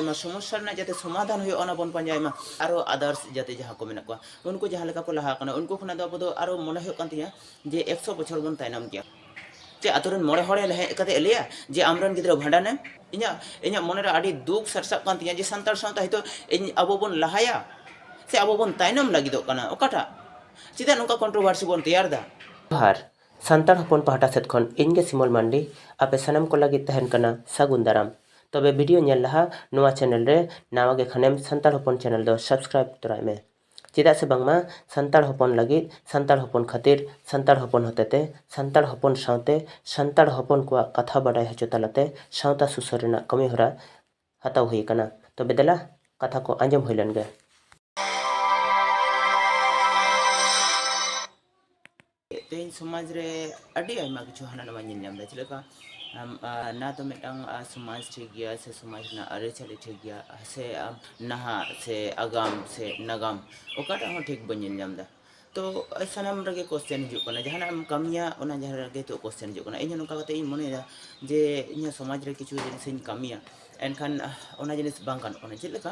ᱚᱱᱟ ᱥᱚᱢᱚᱥᱥᱟ ᱨᱮᱱᱟᱜ ᱡᱟᱛᱮ ᱥᱚᱢᱟᱫᱷᱟᱱ ᱦᱩᱭᱩᱜᱼᱟ ᱚᱱᱟ ᱵᱚᱱ ᱯᱟᱸᱡᱟᱭ ᱢᱟ ᱟᱨᱚ ᱟᱫᱟᱨᱥ ᱡᱟᱛᱮ ᱡᱟᱦᱟᱸ ᱠᱚ ᱢᱮᱱᱟᱜ ᱠᱚᱣᱟ ᱩᱱᱠᱩ ᱡᱟᱦᱟᱸ ᱞᱮᱠᱟ ᱠᱚ ᱞᱟᱦᱟ ᱟᱠᱟᱱᱟ ᱩᱱᱠᱩ ᱠᱷᱚᱱᱟᱜ ᱫᱚ ᱟᱵᱚ ᱫᱚ ᱟᱨᱚ ᱢᱚᱱᱮ ᱦᱩᱭᱩᱜ ᱠᱟᱱ ᱛᱤᱧᱟ ᱡᱮ ᱮᱠᱥᱚ ᱵᱚᱪᱷᱚᱨ ᱵᱚᱱ ᱛᱟᱭᱱᱚᱢ ᱜᱮᱭᱟ ᱪᱮ ᱟᱛᱳ ᱨᱮᱱ ᱢᱚᱬᱮ ᱦᱚᱲ ᱦᱮᱡ ᱠᱟᱛᱮ ᱞᱟᱹᱭᱟ ᱡᱮ ᱟᱢᱨᱮᱱ ᱜᱤᱫᱽᱨᱟᱹ ᱵᱷᱟᱸᱰᱟᱱᱮᱢ ᱤᱧᱟᱹᱜ ᱤᱧᱟᱹᱜ ᱢᱚᱱᱮᱨᱮ ᱟᱹᱰᱤ ᱫᱩᱠ ᱥᱟᱨᱥᱟᱜ ᱠᱟᱱ ᱛᱤᱧᱟ ᱡᱮ ᱥᱟᱱᱛᱟᱲ ᱥᱟᱶᱛᱟ ᱦᱤᱛᱚᱜ ᱤᱧ ᱟᱵᱚ ᱵᱚᱱ ᱞᱟᱦᱟᱭᱟ ᱥᱮ ᱟᱵᱚ ᱵᱚᱱ ᱛᱟᱭᱱᱚᱢ ᱞᱟᱹᱜᱤᱫᱚᱜ ᱠᱟᱱᱟ ᱚᱠᱟᱴᱟᱜ ᱪᱮᱫᱟᱜ ᱱᱚᱝᱠᱟ ᱠᱚᱱᱴᱨᱳᱵᱷᱟᱨᱥᱤ ᱵᱚᱱ ᱛᱮᱭᱟᱨ ᱮᱫᱟ ᱟᱨ ᱥᱟᱱᱛᱟᱲ ᱦᱚᱯᱚᱱ ᱯᱟᱦᱴᱟ ᱥᱮᱫ ᱠᱷᱚᱱ ᱤᱧ ᱜᱮ ᱥᱤᱢᱚᱞ ᱢᱟᱱᱰᱤ ᱟᱯᱮ ᱥᱟᱱᱟᱢ ᱠᱚ ᱞᱟᱹᱜᱤᱫ ᱛᱟᱦᱮᱱ ᱠᱟᱱᱟ ᱥᱟᱹᱜᱩᱱ ᱫᱟᱨᱟᱢ ᱛᱚᱵᱮ ᱵᱷᱤᱰᱤᱭᱳ ᱧᱮᱞ ᱞᱟᱦᱟ ᱱᱚᱣᱟ ᱪᱮᱱᱮᱞ ᱨᱮ ᱱᱟᱣᱟ ᱜᱮ ᱠᱷᱟᱱᱮᱢ ᱥᱟᱱᱛᱟᱲ ᱦᱚᱯᱚᱱ ᱪᱮᱱᱮᱞ ᱫᱚ ᱥᱟᱵᱥᱠᱨᱟᱭᱤᱵ ᱛᱚᱨᱟᱭ ᱢᱮ ᱪᱮᱫᱟᱜ ᱥᱮ ᱵᱟᱝᱢᱟ ᱥᱟᱱᱛᱟᱲ ᱦᱚᱯᱚᱱ ᱞᱟᱹᱜᱤᱫ ᱥᱟᱱᱛᱟᱲ ᱦᱚᱯᱚᱱ ᱠᱷᱟᱹᱛᱤᱨ ᱥᱟᱱᱛᱟᱲ ᱦᱚᱯᱚᱱ ᱦᱚᱛᱮᱛᱮ ᱥᱟᱱᱛᱟᱲ ᱦᱚᱯᱚᱱ ᱥᱟᱶᱛᱮ ᱥᱟᱱᱛᱟᱲ ᱦᱚᱯᱚᱱ ᱠᱚᱣᱟᱜ ᱠᱟᱛᱷᱟ ᱵᱟᱰᱟᱭ ᱦᱚᱪᱚ ᱛᱟᱞᱟᱛᱮ ᱥᱟᱶᱛᱟ ᱥᱩᱥᱟᱹᱨ ᱨᱮᱱᱟᱜ ᱠᱟᱹᱢᱤ ᱦᱚᱨᱟ ᱦᱟᱛᱟᱣ ᱦᱩᱭ ᱟᱠᱟᱱᱟ ᱛᱚᱵᱮ ᱫᱮᱞᱟ ᱠᱟᱛᱷᱟ ᱠᱚ ᱟᱸᱡᱚᱢ ᱦᱩᱭ ᱞᱮᱱ ᱜᱮ᱾ ᱛᱮᱦᱮᱧ ᱥᱚᱢᱟᱡᱽ ᱨᱮ ᱟᱹᱰᱤ ᱟᱭᱢᱟ ᱠᱤᱪᱷᱩ ᱦᱟᱱᱟ ᱱᱟᱣᱟ ᱧᱮᱞ ᱧᱟᱢ ᱮᱫᱟ ᱪᱮᱫ ᱞᱮᱠᱟ ᱱᱟ ᱛᱚ ᱢᱤᱫᱴᱟᱝ ᱥᱚᱢᱟᱡᱽ ᱴᱷᱤᱠ ᱜᱮᱭᱟ ᱥᱮ ᱥᱚᱢᱟᱡᱽ ᱨᱮᱱᱟᱜ ᱟᱹᱨᱤᱪᱟᱹᱞᱤ ᱴᱷᱤᱠ ᱜᱮᱭᱟ ᱥᱮ ᱱᱟᱦᱟᱜ ᱥᱮ ᱟᱜᱟᱢ ᱥᱮ ᱱᱟᱜᱟᱢ ᱚᱠᱟᱴᱟᱜ ᱦᱚᱸ ᱴᱷᱤᱠ ᱵᱟᱹᱧ ᱧᱮᱞ ᱧᱟᱢ ᱮᱫᱟ ᱛᱚ ᱥᱟᱱᱟᱢ ᱨᱮᱜᱮ ᱠᱚᱥᱪᱮᱱ ᱦᱤᱡᱩᱜ ᱠᱟᱱᱟ ᱡᱟᱦᱟᱱᱟᱜ ᱮᱢ ᱠᱟᱹᱢᱤᱭᱟ ᱚᱱᱟ ᱡᱟᱦᱟᱸ ᱨᱮᱜᱮ ᱱᱤᱛᱚᱜ ᱠᱚᱥᱪᱮᱱ ᱦᱤᱡᱩᱜ ᱠᱟᱱᱟ ᱤᱧ ᱦᱚᱸ ᱱᱚᱝᱠᱟ ᱠᱟᱛᱮ ᱤᱧ ᱢᱚᱱᱮᱭᱮᱫᱟ ᱡᱮ ᱤᱧᱟᱹᱜ ᱥᱚᱢᱟᱡᱽ ᱨᱮ ᱠᱤᱪᱷᱩ ᱡᱤᱱᱤᱥ ᱤᱧ ᱠᱟᱹᱢᱤᱭᱟ ᱮᱱᱠᱷᱟᱱ ᱚᱱᱟ ᱡᱤᱱᱤᱥ ᱵᱟᱝ ᱜᱟᱱᱚᱜ ᱠᱟᱱᱟ ᱪᱮᱫ ᱞᱮᱠᱟ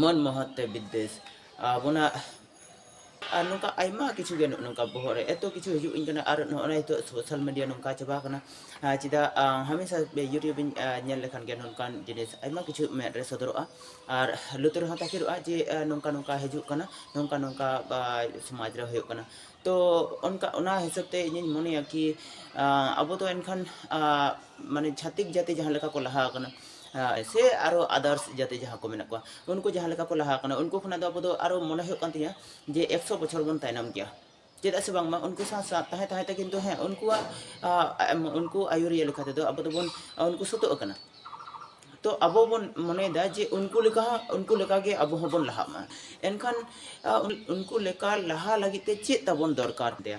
ᱢᱚᱱ ᱢᱚᱦᱚᱛ ᱛᱮ ᱵᱤᱫᱽᱫᱮᱥ ᱟᱵᱚᱱᱟᱜ ᱟᱨ ᱱᱚᱝᱠᱟ ᱟᱭᱢᱟ ᱠᱤᱪᱷᱩ ᱜᱮ ᱱᱚᱜᱼᱚ ᱱᱚᱝᱠᱟ ᱵᱚᱦᱚᱜ ᱨᱮ ᱮᱛᱚ ᱠᱤᱪᱷᱩ ᱦᱤᱡᱩᱜ ᱤᱧ ᱠᱟᱱᱟ ᱟᱨ ᱱᱚᱜᱼᱚ ᱱᱚᱣᱟ ᱱᱤᱛᱚᱜ ᱥᱳᱥᱟᱞ ᱢᱤᱰᱤᱭᱟ ᱱᱚᱝᱠᱟ ᱪᱟᱵᱟ ᱟᱠᱟᱱᱟ ᱪᱮᱫᱟᱜ ᱦᱟᱢᱮᱥᱟ ᱤᱭᱩᱴᱩᱵᱽ ᱤᱧ ᱧᱮᱞ ᱞᱮᱠᱷᱟᱱ ᱜᱮ ᱱᱚᱝᱠᱟᱱ ᱡᱤᱱᱤᱥ ᱟᱭᱢᱟ ᱠᱤᱪᱷᱩ ᱢᱮᱫ ᱨᱮ ᱥᱚᱫᱚᱨᱚᱜᱼᱟ ᱟᱨ ᱞᱩᱛᱩᱨ ᱨᱮᱦᱚᱸ ᱛᱟᱠᱮᱨᱚᱜᱼᱟ ᱡᱮ ᱱᱚᱝᱠᱟ ᱱᱚᱝᱠᱟ ᱦᱤᱡᱩᱜ ᱠᱟᱱᱟ ᱱᱚᱝᱠᱟ ᱱᱚᱝᱠᱟ ᱥᱚᱢᱟᱡᱽ ᱨᱮ ᱦᱩᱭᱩᱜ ᱠᱟᱱᱟ ᱛᱚ ᱚᱱᱠᱟ ᱚᱱᱟ ᱦᱤᱥᱟᱹᱵ ᱛᱮ ᱤᱧᱤᱧ ᱢᱚᱱᱮᱭᱟ ᱠᱤ ᱟᱵᱚ ᱫᱚ ᱮᱱᱠᱷᱟᱱ ᱢᱟᱱᱮ ᱪᱷᱟᱹᱛᱤᱠ ᱡᱟᱹᱛᱤ ᱡᱟᱦᱟᱸ ᱞᱮᱠᱟ ᱠᱚ ᱞᱟᱦᱟ ᱟᱠᱟᱱᱟ ᱥᱮ ᱟᱨᱚ ᱟᱫᱟᱨᱥ ᱡᱟᱹᱛᱤ ᱡᱟᱦᱟᱸ ᱠᱚ ᱢᱮᱱᱟᱜ ᱠᱚᱣᱟ ᱩᱱᱠᱩ ᱡᱟᱦᱟᱸ ᱞᱮᱠᱟ ᱠᱚ ᱞᱟᱦᱟ ᱟᱠᱟᱱᱟ ᱩᱱᱠᱩ ᱠᱷᱚᱱᱟᱜ ᱫᱚ ᱟᱵᱚ ᱫᱚ ᱟᱨᱚ ᱢᱚᱱᱮ ᱦᱩᱭᱩᱜ ᱠᱟᱱ ᱛᱤᱧᱟᱹ ᱡᱮ ᱮᱠᱥᱚ ᱵᱚᱪᱷᱚᱨ ᱵᱚᱱ ᱛᱟᱭᱱᱚᱢ ᱜᱮᱭᱟ ᱪᱮᱫᱟᱜ ᱥᱮ ᱵᱟᱝᱢᱟ ᱩᱱᱠᱩ ᱥᱟᱶ ᱥᱟᱶ ᱛᱟᱦᱮᱸ ᱛᱟᱦᱮᱸ ᱛᱮ ᱠᱤᱱᱛᱩ ᱦᱮᱸ ᱩᱱᱠᱩᱣᱟᱜ ᱩᱱᱠᱩ ᱟᱹᱭᱩᱨᱤᱭᱟᱹ ᱞᱮᱠᱟ ᱛᱮᱫᱚ ᱟᱵᱚ ᱫᱚᱵᱚᱱ ᱩᱱᱠᱩ ᱥᱟᱹᱛᱟᱹᱜ ᱠᱟᱱᱟ ᱛᱚ ᱟᱵᱚ ᱵᱚᱱ ᱢᱚᱱᱮᱭᱮᱫᱟ ᱡᱮ ᱩᱱᱠᱩ ᱞᱮᱠᱟ ᱦᱚᱸ ᱩᱱᱠᱩ ᱞᱮᱠᱟᱜᱮ ᱟᱵᱚ ᱦᱚᱸᱵᱚᱱ ᱞᱟᱦᱟᱜ ᱢᱟ ᱮᱱᱠᱷᱟᱱ ᱩᱱᱠᱩ ᱞᱮᱠᱟ ᱞᱟᱦᱟ ᱞᱟᱹᱜᱤᱫ ᱛᱮ ᱪᱮᱫ ᱛᱟᱵᱚᱱ ᱫᱚᱨᱠᱟᱨ ᱛᱮ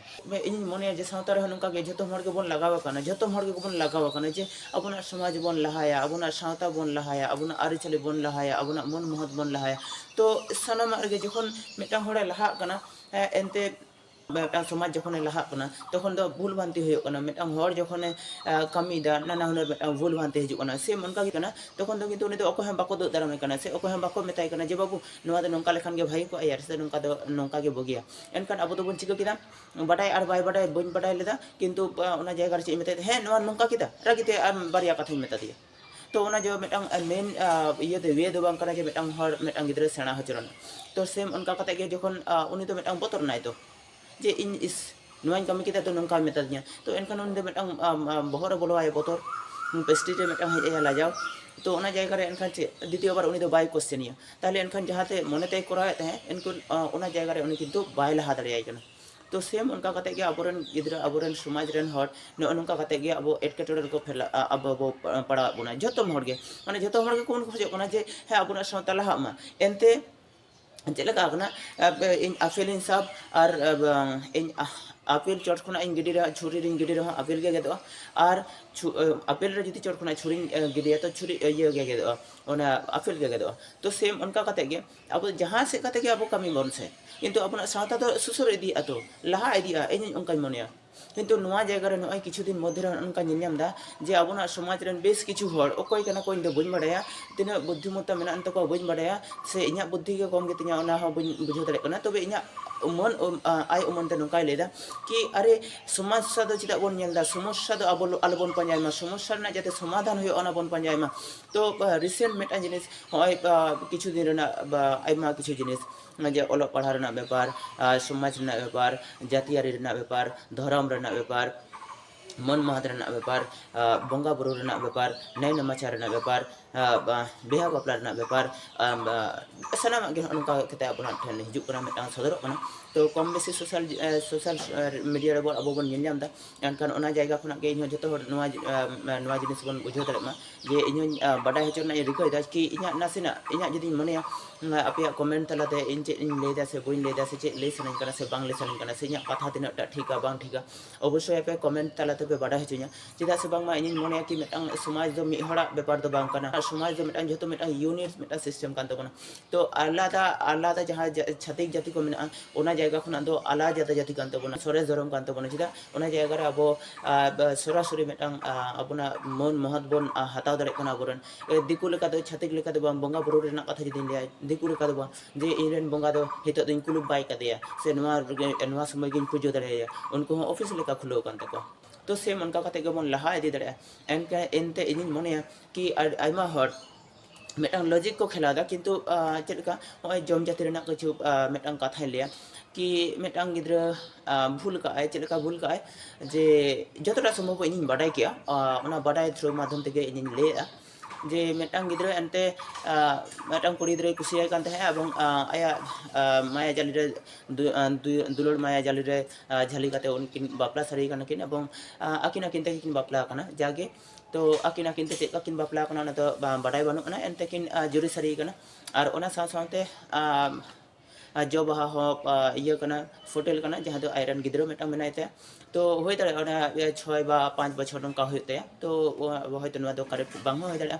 ᱤᱧᱤᱧ ᱢᱚᱱᱮᱭᱟ ᱡᱮ ᱥᱟᱶᱛᱟ ᱨᱮᱦᱚᱸ ᱱᱚᱝᱠᱟᱜᱮ ᱡᱚᱛᱚ ᱦᱚᱲ ᱜᱮᱵᱚᱱ ᱞᱟᱜᱟᱣ ᱟᱠᱟᱱᱟ ᱡᱚᱛᱚ ᱦᱚᱲ ᱜᱮᱵᱚᱱ ᱞᱟᱜᱟᱣ ᱟᱠᱟᱱᱟ ᱡᱮ ᱟᱵᱚᱱᱟᱜ ᱥᱚᱢᱟᱡᱽ ᱵᱚᱱ ᱞᱟᱦᱟᱭᱟ ᱟᱵᱚᱱᱟᱜ ᱥᱟᱶᱛᱟ ᱵᱚᱱ ᱞᱟᱦᱟᱭᱟ ᱟᱵᱚᱱᱟᱜ ᱟᱹᱨᱤᱪᱟᱹᱞᱤ ᱵᱚᱱ ᱞᱟᱦᱟᱭᱟ ᱟᱵᱚᱱᱟᱜ ᱢᱟᱹᱱ ᱢᱚᱦᱚᱛ ᱵᱚᱱ ᱞᱟᱦᱟᱭᱟ ᱛᱚ ᱥᱟᱱᱟᱢᱟᱜ ᱨᱮᱜᱮ ᱡᱚᱠᱷᱚᱱ ᱢᱤᱫᱴᱟᱝ ᱦᱚᱲᱮ ᱞᱟᱦᱟᱜ ᱠᱟᱱᱟ ᱮᱱᱛᱮᱫ ᱢᱤᱫᱴᱟᱝ ᱥᱚᱢᱟᱡᱽ ᱡᱚᱠᱷᱚᱱᱮ ᱞᱟᱦᱟᱜ ᱠᱟᱱᱟ ᱛᱚᱠᱷᱚᱱ ᱫᱚ ᱵᱷᱩᱞ ᱵᱷᱨᱟᱱᱛᱤ ᱦᱩᱭᱩᱜ ᱠᱟᱱᱟ ᱢᱤᱫᱴᱟᱝ ᱦᱚᱲ ᱡᱚᱠᱷᱚᱱᱮ ᱠᱟᱹᱢᱤᱭᱮᱫᱟ ᱱᱟᱱᱟ ᱦᱩᱱᱟᱹᱨ ᱢᱤᱫᱴᱟᱝ ᱵᱷᱩᱞ ᱵᱷᱨᱟᱱᱛᱤ ᱦᱤᱡᱩᱜ ᱠᱟᱱᱟ ᱥᱮᱢ ᱚᱱᱠᱟ ᱜᱮ ᱠᱟᱱᱟ ᱛᱚᱠᱷᱚᱱ ᱫᱚ ᱠᱤᱱᱛᱩ ᱩᱱᱤ ᱫᱚ ᱚᱠᱚᱭ ᱦᱚᱸ ᱵᱟᱠᱚ ᱫᱩᱜ ᱫᱟᱨᱟᱢᱮ ᱠᱟᱱᱟ ᱥᱮ ᱚᱠᱚᱭ ᱦᱚᱸ ᱵᱟᱠᱚ ᱢᱮᱛᱟᱭ ᱠᱟᱱᱟ ᱡᱮ ᱵᱟᱹᱵᱩ ᱱᱚᱣᱟ ᱫᱚ ᱱᱚᱝᱠᱟ ᱞᱮᱠᱷᱟᱱ ᱜᱮ ᱵᱷᱟᱹᱜᱤ ᱠᱚᱜᱼᱟ ᱥᱮ ᱱᱚᱝᱠᱟ ᱫᱚ ᱱᱚᱝᱠᱟ ᱜᱮ ᱵᱩᱜᱤᱭᱟ ᱮᱱᱠᱷᱟᱱ ᱟᱵᱚ ᱫᱚᱵᱚᱱ ᱪᱤᱠᱟᱹ ᱠᱮᱫᱟ ᱵᱟᱰᱟᱭ ᱟᱨ ᱵᱟᱭ ᱵᱟᱰᱟᱭ ᱵᱟᱹᱧ ᱵᱟᱰᱟᱭ ᱞᱮᱫᱟ ᱠᱤᱱᱛᱩ ᱚᱱᱟ ᱡᱟᱭᱜᱟ ᱨᱮ ᱪᱮᱫ ᱤᱧ ᱢᱮᱛᱟᱭ ᱠᱟᱱᱟ ᱦᱮᱸ ᱱᱚᱣᱟ ᱱᱚᱝᱠᱟ ᱠᱮᱫᱟ ᱨᱟᱹᱜᱤᱛᱮ ᱟᱨ ᱵᱟᱨᱭᱟ ᱠᱟᱛᱷᱟᱧ ᱢᱮᱛᱟ ᱫᱮᱭᱟ ᱛᱚ ᱚᱱᱟ ᱡᱮ ᱢᱤᱫᱴᱟᱝ ᱢᱮᱱ ᱤᱭᱟᱹ ᱫᱚ ᱳᱭᱮ ᱫᱚ ᱵᱟᱝ ᱠᱟᱱᱟ ᱡᱮ ᱢᱤᱫᱴᱟᱝ ᱦᱚᱲ ᱢᱤᱫᱴᱟᱝ ᱜᱤᱫᱽᱨᱟᱹ ᱥᱮᱬᱟ ᱦᱚᱪᱚ ᱨᱮᱱᱟᱜ ᱛᱚ ᱥᱮᱢ ᱚᱱᱠᱟ ᱠᱟᱛᱮ ᱜᱮ ᱡᱚᱠᱷᱚᱱ ᱩᱱᱤ ᱫᱚ ᱢᱤᱫᱴᱟᱝ ᱵᱚᱛᱚᱨ ᱮᱱᱟᱭ ᱛᱚ ᱡᱮ ᱤᱧ ᱤᱥ ᱱᱚᱣᱟᱧ ᱠᱟᱹᱢᱤ ᱠᱮᱫᱟ ᱛᱚ ᱱᱚᱝᱠᱟᱭ ᱢᱮᱛᱟ ᱫᱤᱧᱟ ᱛᱚ ᱮᱱᱠᱷᱟᱱ ᱩᱱᱤ ᱫᱚ ᱢᱤᱫᱴᱟᱝ ᱵᱚᱦᱚᱜ ᱨᱮ ᱵᱚᱞᱚ ᱟᱭᱟ ᱵᱚᱛᱚᱨ ᱯᱮᱥᱴᱤ ᱨᱮ ᱢᱤᱫᱴᱟᱝ ᱦᱮᱡ ᱟᱭᱟ ᱞᱟᱡᱟᱣ ᱛᱚ ᱚᱱᱟ ᱡᱟᱭᱜᱟ ᱨᱮ ᱮᱱᱠᱷᱟᱱ ᱪᱮᱫ ᱫᱤᱛᱤᱭᱚ ᱵᱟᱨ ᱩᱱᱤ ᱫᱚ ᱵᱟᱭ ᱠᱚᱥᱪᱮᱱᱮᱭᱟ ᱛᱟᱦᱚᱞᱮ ᱮᱱᱠᱷᱟᱱ ᱡᱟᱦᱟᱸᱛᱮ ᱢᱚᱱᱮ ᱛᱮᱭ ᱠᱚᱨᱟᱣᱮᱫ ᱛᱟᱦᱮᱸᱫ ᱮᱱᱠᱷᱟᱱ ᱚᱱᱟ ᱡᱟᱭᱜᱟ ᱨᱮ ᱩᱱᱤ ᱠᱤᱱᱛᱩ ᱵᱟᱭ ᱞᱟᱦᱟ ᱫᱟᱲᱮᱭᱟᱭ ᱠᱟᱱᱟ ᱛᱚ ᱥᱮᱢ ᱚᱱᱠᱟ ᱠᱟᱛᱮ ᱜᱮ ᱟᱵᱚ ᱨᱮᱱ ᱜᱤᱫᱽᱨᱟᱹ ᱟᱵᱚ ᱨᱮᱱ ᱥᱚᱢᱟᱡᱽ ᱨᱮᱱ ᱦᱚᱲ ᱱᱚᱜᱼᱚ ᱱᱚᱝᱠᱟ ᱠᱟᱛᱮ ᱜᱮ ᱟᱵᱚ ᱮᱴᱠᱮᱴᱚᱬᱮ ᱨᱮᱠᱚ ᱯᱷᱮᱞᱟᱜ ᱟᱵᱚ ᱵᱚ ᱯᱟᱲᱟᱣᱮᱫ ᱵᱚᱱᱟ ᱡᱷᱚᱛᱚ ᱦᱚᱲ ᱜᱮ ᱢᱟᱱᱮ ᱡᱷᱚᱛᱚ ᱦᱚᱲ ᱜᱮᱠᱚ ᱠᱷᱚᱡᱚᱜ ᱠᱟᱱᱟ ᱡᱮ ᱦᱮᱸ ᱟᱵᱚᱱᱟᱜ ᱥᱟᱶᱛᱟ ᱞᱟᱦᱟᱜ ᱢᱟ ᱮᱱᱛᱮ ᱪᱮᱫ ᱞᱮᱠᱟ ᱠᱟᱱᱟ ᱤᱧ ᱟᱯᱮᱞ ᱤᱧ ᱥᱟᱵ ᱟᱨ ᱤᱧ ᱟᱯᱮᱞ ᱪᱚᱴ ᱠᱷᱚᱱᱟᱜ ᱤᱧ ᱜᱤᱰᱤ ᱨᱮᱦᱚᱸ ᱪᱷᱩᱨᱤ ᱨᱤᱧ ᱜᱤᱰᱤ ᱨᱮᱦᱚᱸ ᱟᱯᱮᱞ ᱜᱮ ᱜᱮᱫᱚᱜᱼᱟ ᱟᱨ ᱟᱯᱮᱞ ᱨᱮ ᱡᱩᱫᱤ ᱪᱚᱴ ᱠᱷᱚᱱᱟᱜ ᱪᱷᱩᱨᱤᱧ ᱜᱤᱰᱤᱭᱟ ᱛᱚ ᱪᱷᱩᱨᱤ ᱤᱭᱟᱹ ᱜᱮ ᱜᱮᱫᱚᱜᱼᱟ ᱚᱱᱟ ᱟᱯᱮᱞ ᱜᱮ ᱜᱮᱫᱚᱜᱼᱟ ᱛᱚ ᱥᱮᱢ ᱚᱱᱠᱟ ᱠᱟᱛᱮ ᱜᱮ ᱟᱵᱚ ᱫᱚ ᱡᱟᱦᱟᱸ ᱥᱮᱫ ᱠᱟᱛᱮ ᱜᱮ ᱟᱵᱚ ᱠᱟᱹᱢᱤ ᱵᱚᱱ ᱥᱮ ᱠᱤᱱᱛᱩ ᱟᱵᱚᱱᱟᱜ ᱥᱟᱶᱛᱟ ᱫᱚ ᱥᱩᱥᱟᱹᱨ ᱤᱫᱤᱜ ᱟᱛᱚ ᱞᱟᱦᱟ ᱤᱫᱤᱜᱼᱟ ᱤᱧ ᱦᱚᱸ ᱚᱱᱠᱟᱧ ᱢᱚᱱᱮᱭᱟ ᱠᱤᱱᱛᱩ ᱱᱚᱣᱟ ᱡᱟᱭᱜᱟ ᱨᱮ ᱱᱚᱜᱼᱚᱭ ᱠᱤᱪᱷᱩ ᱫᱤᱱ ᱢᱚᱫᱽᱫᱷᱮ ᱨᱮ ᱱᱚᱜᱼᱚ ᱱᱚᱝᱠᱟᱧ ᱧᱮᱞ ᱧᱟᱢ ᱮᱫᱟ ᱡᱮ ᱟᱵᱚᱱᱟᱜ ᱥᱚᱢᱟᱡᱽ ᱨᱮᱱ ᱵᱮᱥ ᱠᱤᱪᱷᱩ ᱦᱚᱲ ᱚᱠᱚᱭ ᱠᱟᱱᱟ ᱠᱚ ᱤᱧ ᱫᱚ ᱵᱟᱹᱧ ᱵᱟᱲᱟᱭᱟ ᱛᱤᱱᱟᱹᱜ ᱵᱩᱫᱽᱫᱷᱤᱢᱚᱛᱟ ᱢᱮᱱᱟᱜ ᱟᱱ ᱛᱟᱠᱚᱣᱟ ᱵᱟᱹᱧ ᱵᱟᱲᱟᱭᱟ ᱥᱮ ᱤᱧᱟᱹᱜ ᱵᱩᱫᱽᱫᱷᱤ ᱜᱮ ᱠᱚᱢ ᱜᱮᱛᱤᱧᱟ ᱚᱱᱟ ᱦᱚᱸ ᱵᱟᱹᱧ ᱵᱩᱡᱷᱟᱹᱣ ᱫᱟᱲᱮᱭᱟᱜ ᱠᱟᱱᱟ ᱛᱚᱵᱮ ᱤᱧᱟᱹᱜ ᱢᱟᱹᱱ ᱟᱭ ᱩᱢᱟᱹᱱ ᱛᱮ ᱱᱚᱝᱠᱟᱭ ᱞᱟᱹᱭ ᱮᱫᱟ ᱠᱤ ᱟᱨᱮ ᱥᱚᱢᱚᱥᱥᱟ ᱫᱚ ᱪᱮᱫᱟᱜ ᱵᱚᱱ ᱧᱮᱞ ᱮᱫᱟ ᱥᱚᱢᱚᱥᱥᱟ ᱫᱚ ᱟᱞᱚ ᱵᱚᱱ ᱯᱟᱸᱡᱟᱭ ᱢᱟ ᱥᱚᱢᱚᱥᱥᱟ ᱨᱮᱱᱟᱜ ᱡᱟᱛᱮ ᱥᱚᱢᱟᱫᱷᱟᱱ ᱦᱩᱭᱩᱜᱼᱟ ᱚᱱᱟ ᱵᱚᱱ ᱯᱟᱸᱡᱟᱭ ᱢᱟ ᱛᱚ ᱨᱤᱥᱮᱱᱴ ᱢᱤᱫᱴᱟᱝ ᱡᱤᱱᱤᱥ ᱦᱚᱸᱜᱼᱚᱭ ᱠᱤᱪᱷᱩ ᱫᱤᱱ ᱨᱮᱱᱟᱜ ᱟᱭᱢᱟ ᱠᱤᱪᱷᱩ ᱡᱤᱱᱤᱥ ᱡᱮ ᱚᱞᱚᱜ ᱯᱟᱲᱦᱟᱣ ᱨᱮᱱᱟᱜ ᱵᱮᱯᱟᱨ ᱥᱚᱢᱟᱡᱽ ᱨᱮᱱᱟᱜ ᱵᱮᱯᱟᱨ ᱡᱟᱹᱛᱤᱭᱟᱹᱨᱤ ᱨᱮᱱᱟᱜ ᱵᱮᱯᱟᱨ ᱫᱷᱚᱨᱚᱢ ᱨᱮᱱᱟᱜ ᱵᱮᱯᱟᱨ ᱢᱟᱹᱱ ᱢᱟᱦᱟᱛ ᱨᱮᱱᱟᱜ ᱵᱮᱯᱟᱨ ᱵᱚᱸᱜᱟ ᱵᱩᱨᱩ ᱨᱮᱱᱟᱜ ᱵᱮᱯᱟᱨ ᱱᱮᱭ ᱱᱮᱢᱟᱪᱟᱨ ᱨᱮᱱᱟᱜ ᱵᱮᱯᱟᱨ ᱵᱤᱦᱟᱹ ᱵᱟᱯᱞᱟ ᱨᱮᱱᱟᱜ ᱵᱮᱯᱟᱨ ᱥᱟᱱᱟᱢᱟᱜ ᱜᱮ ᱱᱚᱝᱠᱟ ᱠᱟᱛᱮᱫ ᱟᱵᱚᱱᱟᱜ ᱴᱷᱮᱱ ᱦᱤᱡᱩᱜ ᱠᱟᱱᱟ ᱢᱤᱫᱴᱟᱝ ᱥᱚᱫᱚᱨᱚᱜ ᱠᱟᱱᱟ ᱛᱚ ᱠᱚᱢ ᱵᱮᱥᱤ ᱥᱳᱥᱟᱞ ᱥᱳᱥᱟᱞ ᱢᱤᱰᱤᱭᱟ ᱨᱮᱵᱚᱱ ᱟᱵᱚ ᱵᱚᱱ ᱧᱮᱞ ᱧᱟᱢᱫᱟ ᱮᱱᱠᱷᱟᱱ ᱚᱱᱟ ᱡᱟᱭᱜᱟ ᱠᱷᱚᱱᱟᱜ ᱜᱮ ᱤᱧᱦᱚᱸ ᱡᱚᱛᱚ ᱦᱚᱲ ᱱᱚᱣᱟ ᱱᱚᱣᱟ ᱡᱤᱱᱤᱥ ᱵᱚᱱ ᱵᱩᱡᱷᱟᱹᱣ ᱫᱟᱲᱮᱜ ᱢᱟ ᱡᱮ ᱤᱧ ᱦᱚᱸᱧ ᱵᱟᱰᱟᱭ ᱦᱚᱪᱚ ᱨᱮᱱᱟᱜ ᱤᱧ ᱨᱤᱠᱟᱹᱭ ᱫᱟ ᱠᱤ ᱤᱧᱟᱹᱜ ᱱᱟᱥᱮᱱᱟᱜ ᱤᱧᱟᱹᱜ ᱡᱩᱫᱤᱧ ᱢᱚᱱᱮᱭᱟ ᱟᱯᱮᱭᱟᱜ ᱠᱚᱢᱮᱱᱴ ᱛᱟᱞᱟᱛᱮ ᱤᱧ ᱪᱮᱫ ᱤᱧ ᱞᱟᱹᱭ ᱫᱟ ᱥᱮ ᱵᱟᱹᱧ ᱞᱟᱹᱭ ᱫᱟ ᱥᱮ ᱪᱮᱫ ᱞᱟᱹᱭ ᱥᱟᱱᱟᱧ ᱠᱟᱱᱟ ᱥᱮ ᱵᱟᱝ ᱞᱟᱹᱭ ᱥᱟᱱᱟᱧ ᱠᱟᱱᱟ ᱥᱮ ᱤᱧᱟᱹᱜ ᱠᱟᱛᱷᱟ ᱛᱤᱱᱟᱹᱜ ᱴᱟ ᱴᱷᱤᱠᱟ ᱵᱟᱝ ᱴᱷᱤᱠᱟ ᱚᱵᱚᱥᱥᱳᱭ ᱟᱯᱮ ᱠᱚᱢᱮᱱᱴ ᱛᱟᱞᱟᱛᱮ ᱯᱮ ᱵᱟᱰᱟᱭ ᱦᱚᱪᱚᱧᱟ ᱪᱮᱫᱟᱜ ᱥᱮ ᱵᱟᱝᱢᱟ ᱤᱧᱤᱧ ᱢᱚᱱᱮᱭᱟ ᱠᱤ ᱢᱤᱫᱴᱟᱝ ᱥᱚᱢᱟᱡᱽ ᱫᱚ ᱢᱤᱫ ᱦᱚᱲᱟᱜ ᱵᱮᱯᱟᱨ ᱫᱚ ᱵᱟᱝ ᱠᱟᱱᱟ ᱥᱚᱢᱟᱡᱽ ᱫᱚ ᱢᱤᱫᱴᱟᱝ ᱡᱚᱛᱚ ᱢᱤᱫᱴᱟᱝ ᱤᱭᱩᱱᱤᱴ ᱢᱤᱫᱴᱟᱝ ᱥᱤᱥᱴᱮᱢ ᱠᱟᱱ ᱛᱟᱵᱚᱱᱟ ᱛᱚ ᱟᱞᱟᱫᱟ ᱟᱞᱟᱫᱟ ᱡᱟᱦᱟᱸ ᱪᱷᱟᱛᱤᱠ ᱡᱟᱹᱛᱤ ᱠᱚ ᱢᱮᱱᱟᱜᱼᱟ ᱚᱱᱟ ᱡᱟᱭᱜᱟ ᱠᱷᱚᱱᱟᱜ ᱫᱚ ᱟᱞᱟᱫᱟ ᱡᱟᱹᱛᱤ ᱠᱟᱱ ᱛᱟᱵᱚᱱᱟ ᱥᱚᱨᱮᱥ ᱫᱷᱚᱨᱚᱢ ᱠᱟᱱ ᱛᱟᱵᱚᱱᱟ ᱪᱮᱫᱟᱜ ᱚᱱᱟ ᱡᱟᱭᱜᱟ ᱨᱮ ᱟᱵᱚ ᱥᱚᱨᱟᱥᱚᱨᱤ ᱢᱤᱫᱴᱟᱝ ᱟᱵᱚᱱᱟᱜ ᱢᱟᱹᱱ ᱢᱚᱦᱚᱛ ᱵᱚᱱ ᱦᱟᱛᱟᱣ ᱫᱟᱲᱮᱭᱟᱜ ᱠᱟᱱᱟ ᱟᱵᱚᱨᱮᱱ ᱫᱤᱠᱩ ᱞᱮᱠᱟ ᱫᱚ ᱪᱷᱟᱹᱛᱤᱠ ᱞᱮᱠᱟ ᱫᱚ ᱵᱟᱝ ᱵᱚᱸᱜᱟ ᱵᱩᱨᱩ ᱨᱮᱱᱟᱜ ᱠᱟᱛᱷᱟ ᱡᱩᱫᱤᱧ ᱞᱟᱹᱭᱟ ᱫᱤᱠᱩ ᱞᱮᱠᱟ ᱫᱚ ᱵᱟᱝ ᱡᱮ ᱤᱧ ᱨᱮᱱ ᱵᱚᱸᱜᱟ ᱫᱚ ᱱᱤᱛᱚᱜ ᱫᱚᱧ ᱠᱩᱞᱩᱯ ᱵᱟᱭ ᱠᱟᱫᱮᱭᱟ ᱥᱮ ᱱᱚᱣᱟ ᱨᱮᱜᱮ ᱱᱚᱣᱟ ᱥᱚᱢᱚᱭ ᱜᱤᱧ ᱯᱩᱡᱟᱹ ᱫᱟᱲᱮᱭᱟᱭᱟ ᱩᱱᱠᱩ ᱦᱚᱸ ᱚᱯᱷᱤᱥ ᱞᱮᱠᱟ ᱠᱷᱩᱞᱟᱹᱣ ᱟᱠᱟᱱ ᱛᱟᱠᱚᱣᱟ ᱛᱚ ᱥᱮᱢ ᱚᱱᱠᱟ ᱠᱟᱛᱮ ᱜᱮᱵᱚᱱ ᱞᱟᱦᱟ ᱤᱫᱤ ᱫᱟᱲᱮᱭᱟᱜᱼᱟ ᱮᱱᱛᱮ ᱤᱧᱤᱧ ᱢᱚᱱᱮᱭᱟ ᱠᱤ ᱟᱭᱢᱟ ᱦᱚᱲ ᱢᱤᱫᱴᱟᱝ ᱞᱚᱡᱤᱠ ᱠᱚ ᱠᱷᱮᱞᱟᱣ ᱮᱫᱟ ᱠᱤᱱᱛᱩ ᱪᱮᱫ ᱞᱮᱠᱟ ᱱᱚᱜᱼᱚᱭ ᱡᱚᱢ ᱡᱟᱹᱛᱤ ᱨᱮᱱᱟᱜ ᱠᱤᱪᱷᱩ ᱢᱤᱫᱴᱟᱝ ᱠᱟᱛᱷᱟᱧ ᱞᱟᱹᱭᱟ ᱠᱤ ᱢᱤᱫᱴᱟᱝ ᱜᱤᱫᱽᱨᱟᱹ ᱵᱷᱩᱞ ᱠᱟᱜ ᱟᱭ ᱪᱮᱫ ᱞᱮᱠᱟ ᱵᱷᱩᱞ ᱠᱟᱜ ᱟᱭ ᱡᱮ ᱡᱚᱛᱚᱴᱟ ᱥᱚᱢᱵᱷᱚᱵ ᱤᱧᱤᱧ ᱵᱟᱰᱟᱭ ᱠᱮᱜᱼᱟ ᱚᱱᱟ ᱵᱟᱰᱟᱭ ᱛᱷᱨᱩ ᱢᱟᱫᱽᱫᱷᱚᱢ ᱛᱮᱜᱮ ᱤᱧᱤᱧ ᱞᱟᱹᱭᱮᱜᱼᱟ ᱡᱮ ᱢᱤᱫᱴᱟᱝ ᱜᱤᱫᱽᱨᱟᱹ ᱮᱱᱛᱮ ᱢᱤᱫᱴᱟᱝ ᱠᱩᱲᱤ ᱜᱤᱫᱽᱨᱟᱹᱭ ᱠᱩᱥᱤᱭᱟᱭ ᱠᱟᱱ ᱛᱟᱦᱮᱸᱜᱼᱟ ᱮᱵᱚᱝ ᱟᱭᱟᱜ ᱢᱟᱭᱟ ᱡᱟᱹᱞᱤ ᱨᱮ ᱫᱩᱞᱟᱹᱲ ᱢᱟᱭᱟ ᱡᱟᱹᱞᱤ ᱨᱮ ᱡᱷᱟᱹᱞᱤ ᱠᱟᱛᱮ ᱩᱱᱠᱤᱱ ᱵᱟᱯᱞᱟ ᱥᱟᱹᱨᱤ ᱠᱟᱱᱟ ᱠᱤᱱ ᱮᱵᱚᱝ ᱟᱹᱠᱤᱱ ᱟᱹᱠᱤᱱ ᱛᱮᱜᱮ ᱠᱤᱱ ᱵᱟᱯᱞᱟ ᱟᱠᱟᱱᱟ ᱡᱟᱜᱮ ᱛᱚ ᱟᱹᱠᱤᱱ ᱟᱹᱠᱤᱱ ᱛᱮ ᱪᱮᱫ ᱠᱟᱠᱤᱱ ᱵᱟᱯᱞᱟ ᱟᱠᱟᱱᱟ ᱚᱱᱟ ᱫᱚ ᱵᱟᱰᱟᱭ ᱵᱟᱹᱱᱩᱜ ᱟᱱᱟ ᱮᱱᱛᱮ ᱠᱤᱱ ᱡᱩᱨᱤ ᱥᱟᱹᱨᱤ ᱟᱠᱟᱱᱟ ᱟᱨ ᱚᱱᱟ ᱥᱟᱶ ᱥᱟᱶᱛᱮ ᱡᱚ ᱵᱟᱦᱟ ᱦᱚᱸ ᱤᱭᱟᱹ ᱠᱟᱱᱟ ᱯᱷᱳᱴᱮᱞ ᱠᱟᱱᱟ ᱡᱟᱦᱟᱸ ᱫᱚ ᱟᱡᱨᱮᱱ ᱜᱤᱫᱽᱨᱟᱹ ᱢᱤᱫᱴᱟᱝ ᱢᱮᱱᱟᱭ ᱛᱟᱭᱟ ᱛᱚ ᱦᱩᱭ ᱫᱟᱲᱮᱭᱟᱜᱼᱟ ᱚᱱᱟ ᱪᱷᱚᱭ ᱵᱟ ᱯᱟᱸᱪ ᱵᱚᱪᱷᱚᱨ ᱱᱚᱝᱠᱟ ᱦᱩᱭᱩᱜ ᱛᱟᱭᱟ ᱛᱚ ᱦᱚᱭᱛᱳ ᱱᱚᱣᱟ ᱫᱚ ᱠᱟᱨᱮᱠᱴ ᱵᱟᱝ ᱦᱚᱸ ᱦᱩᱭ ᱫᱟᱲᱮᱭᱟᱜᱼᱟ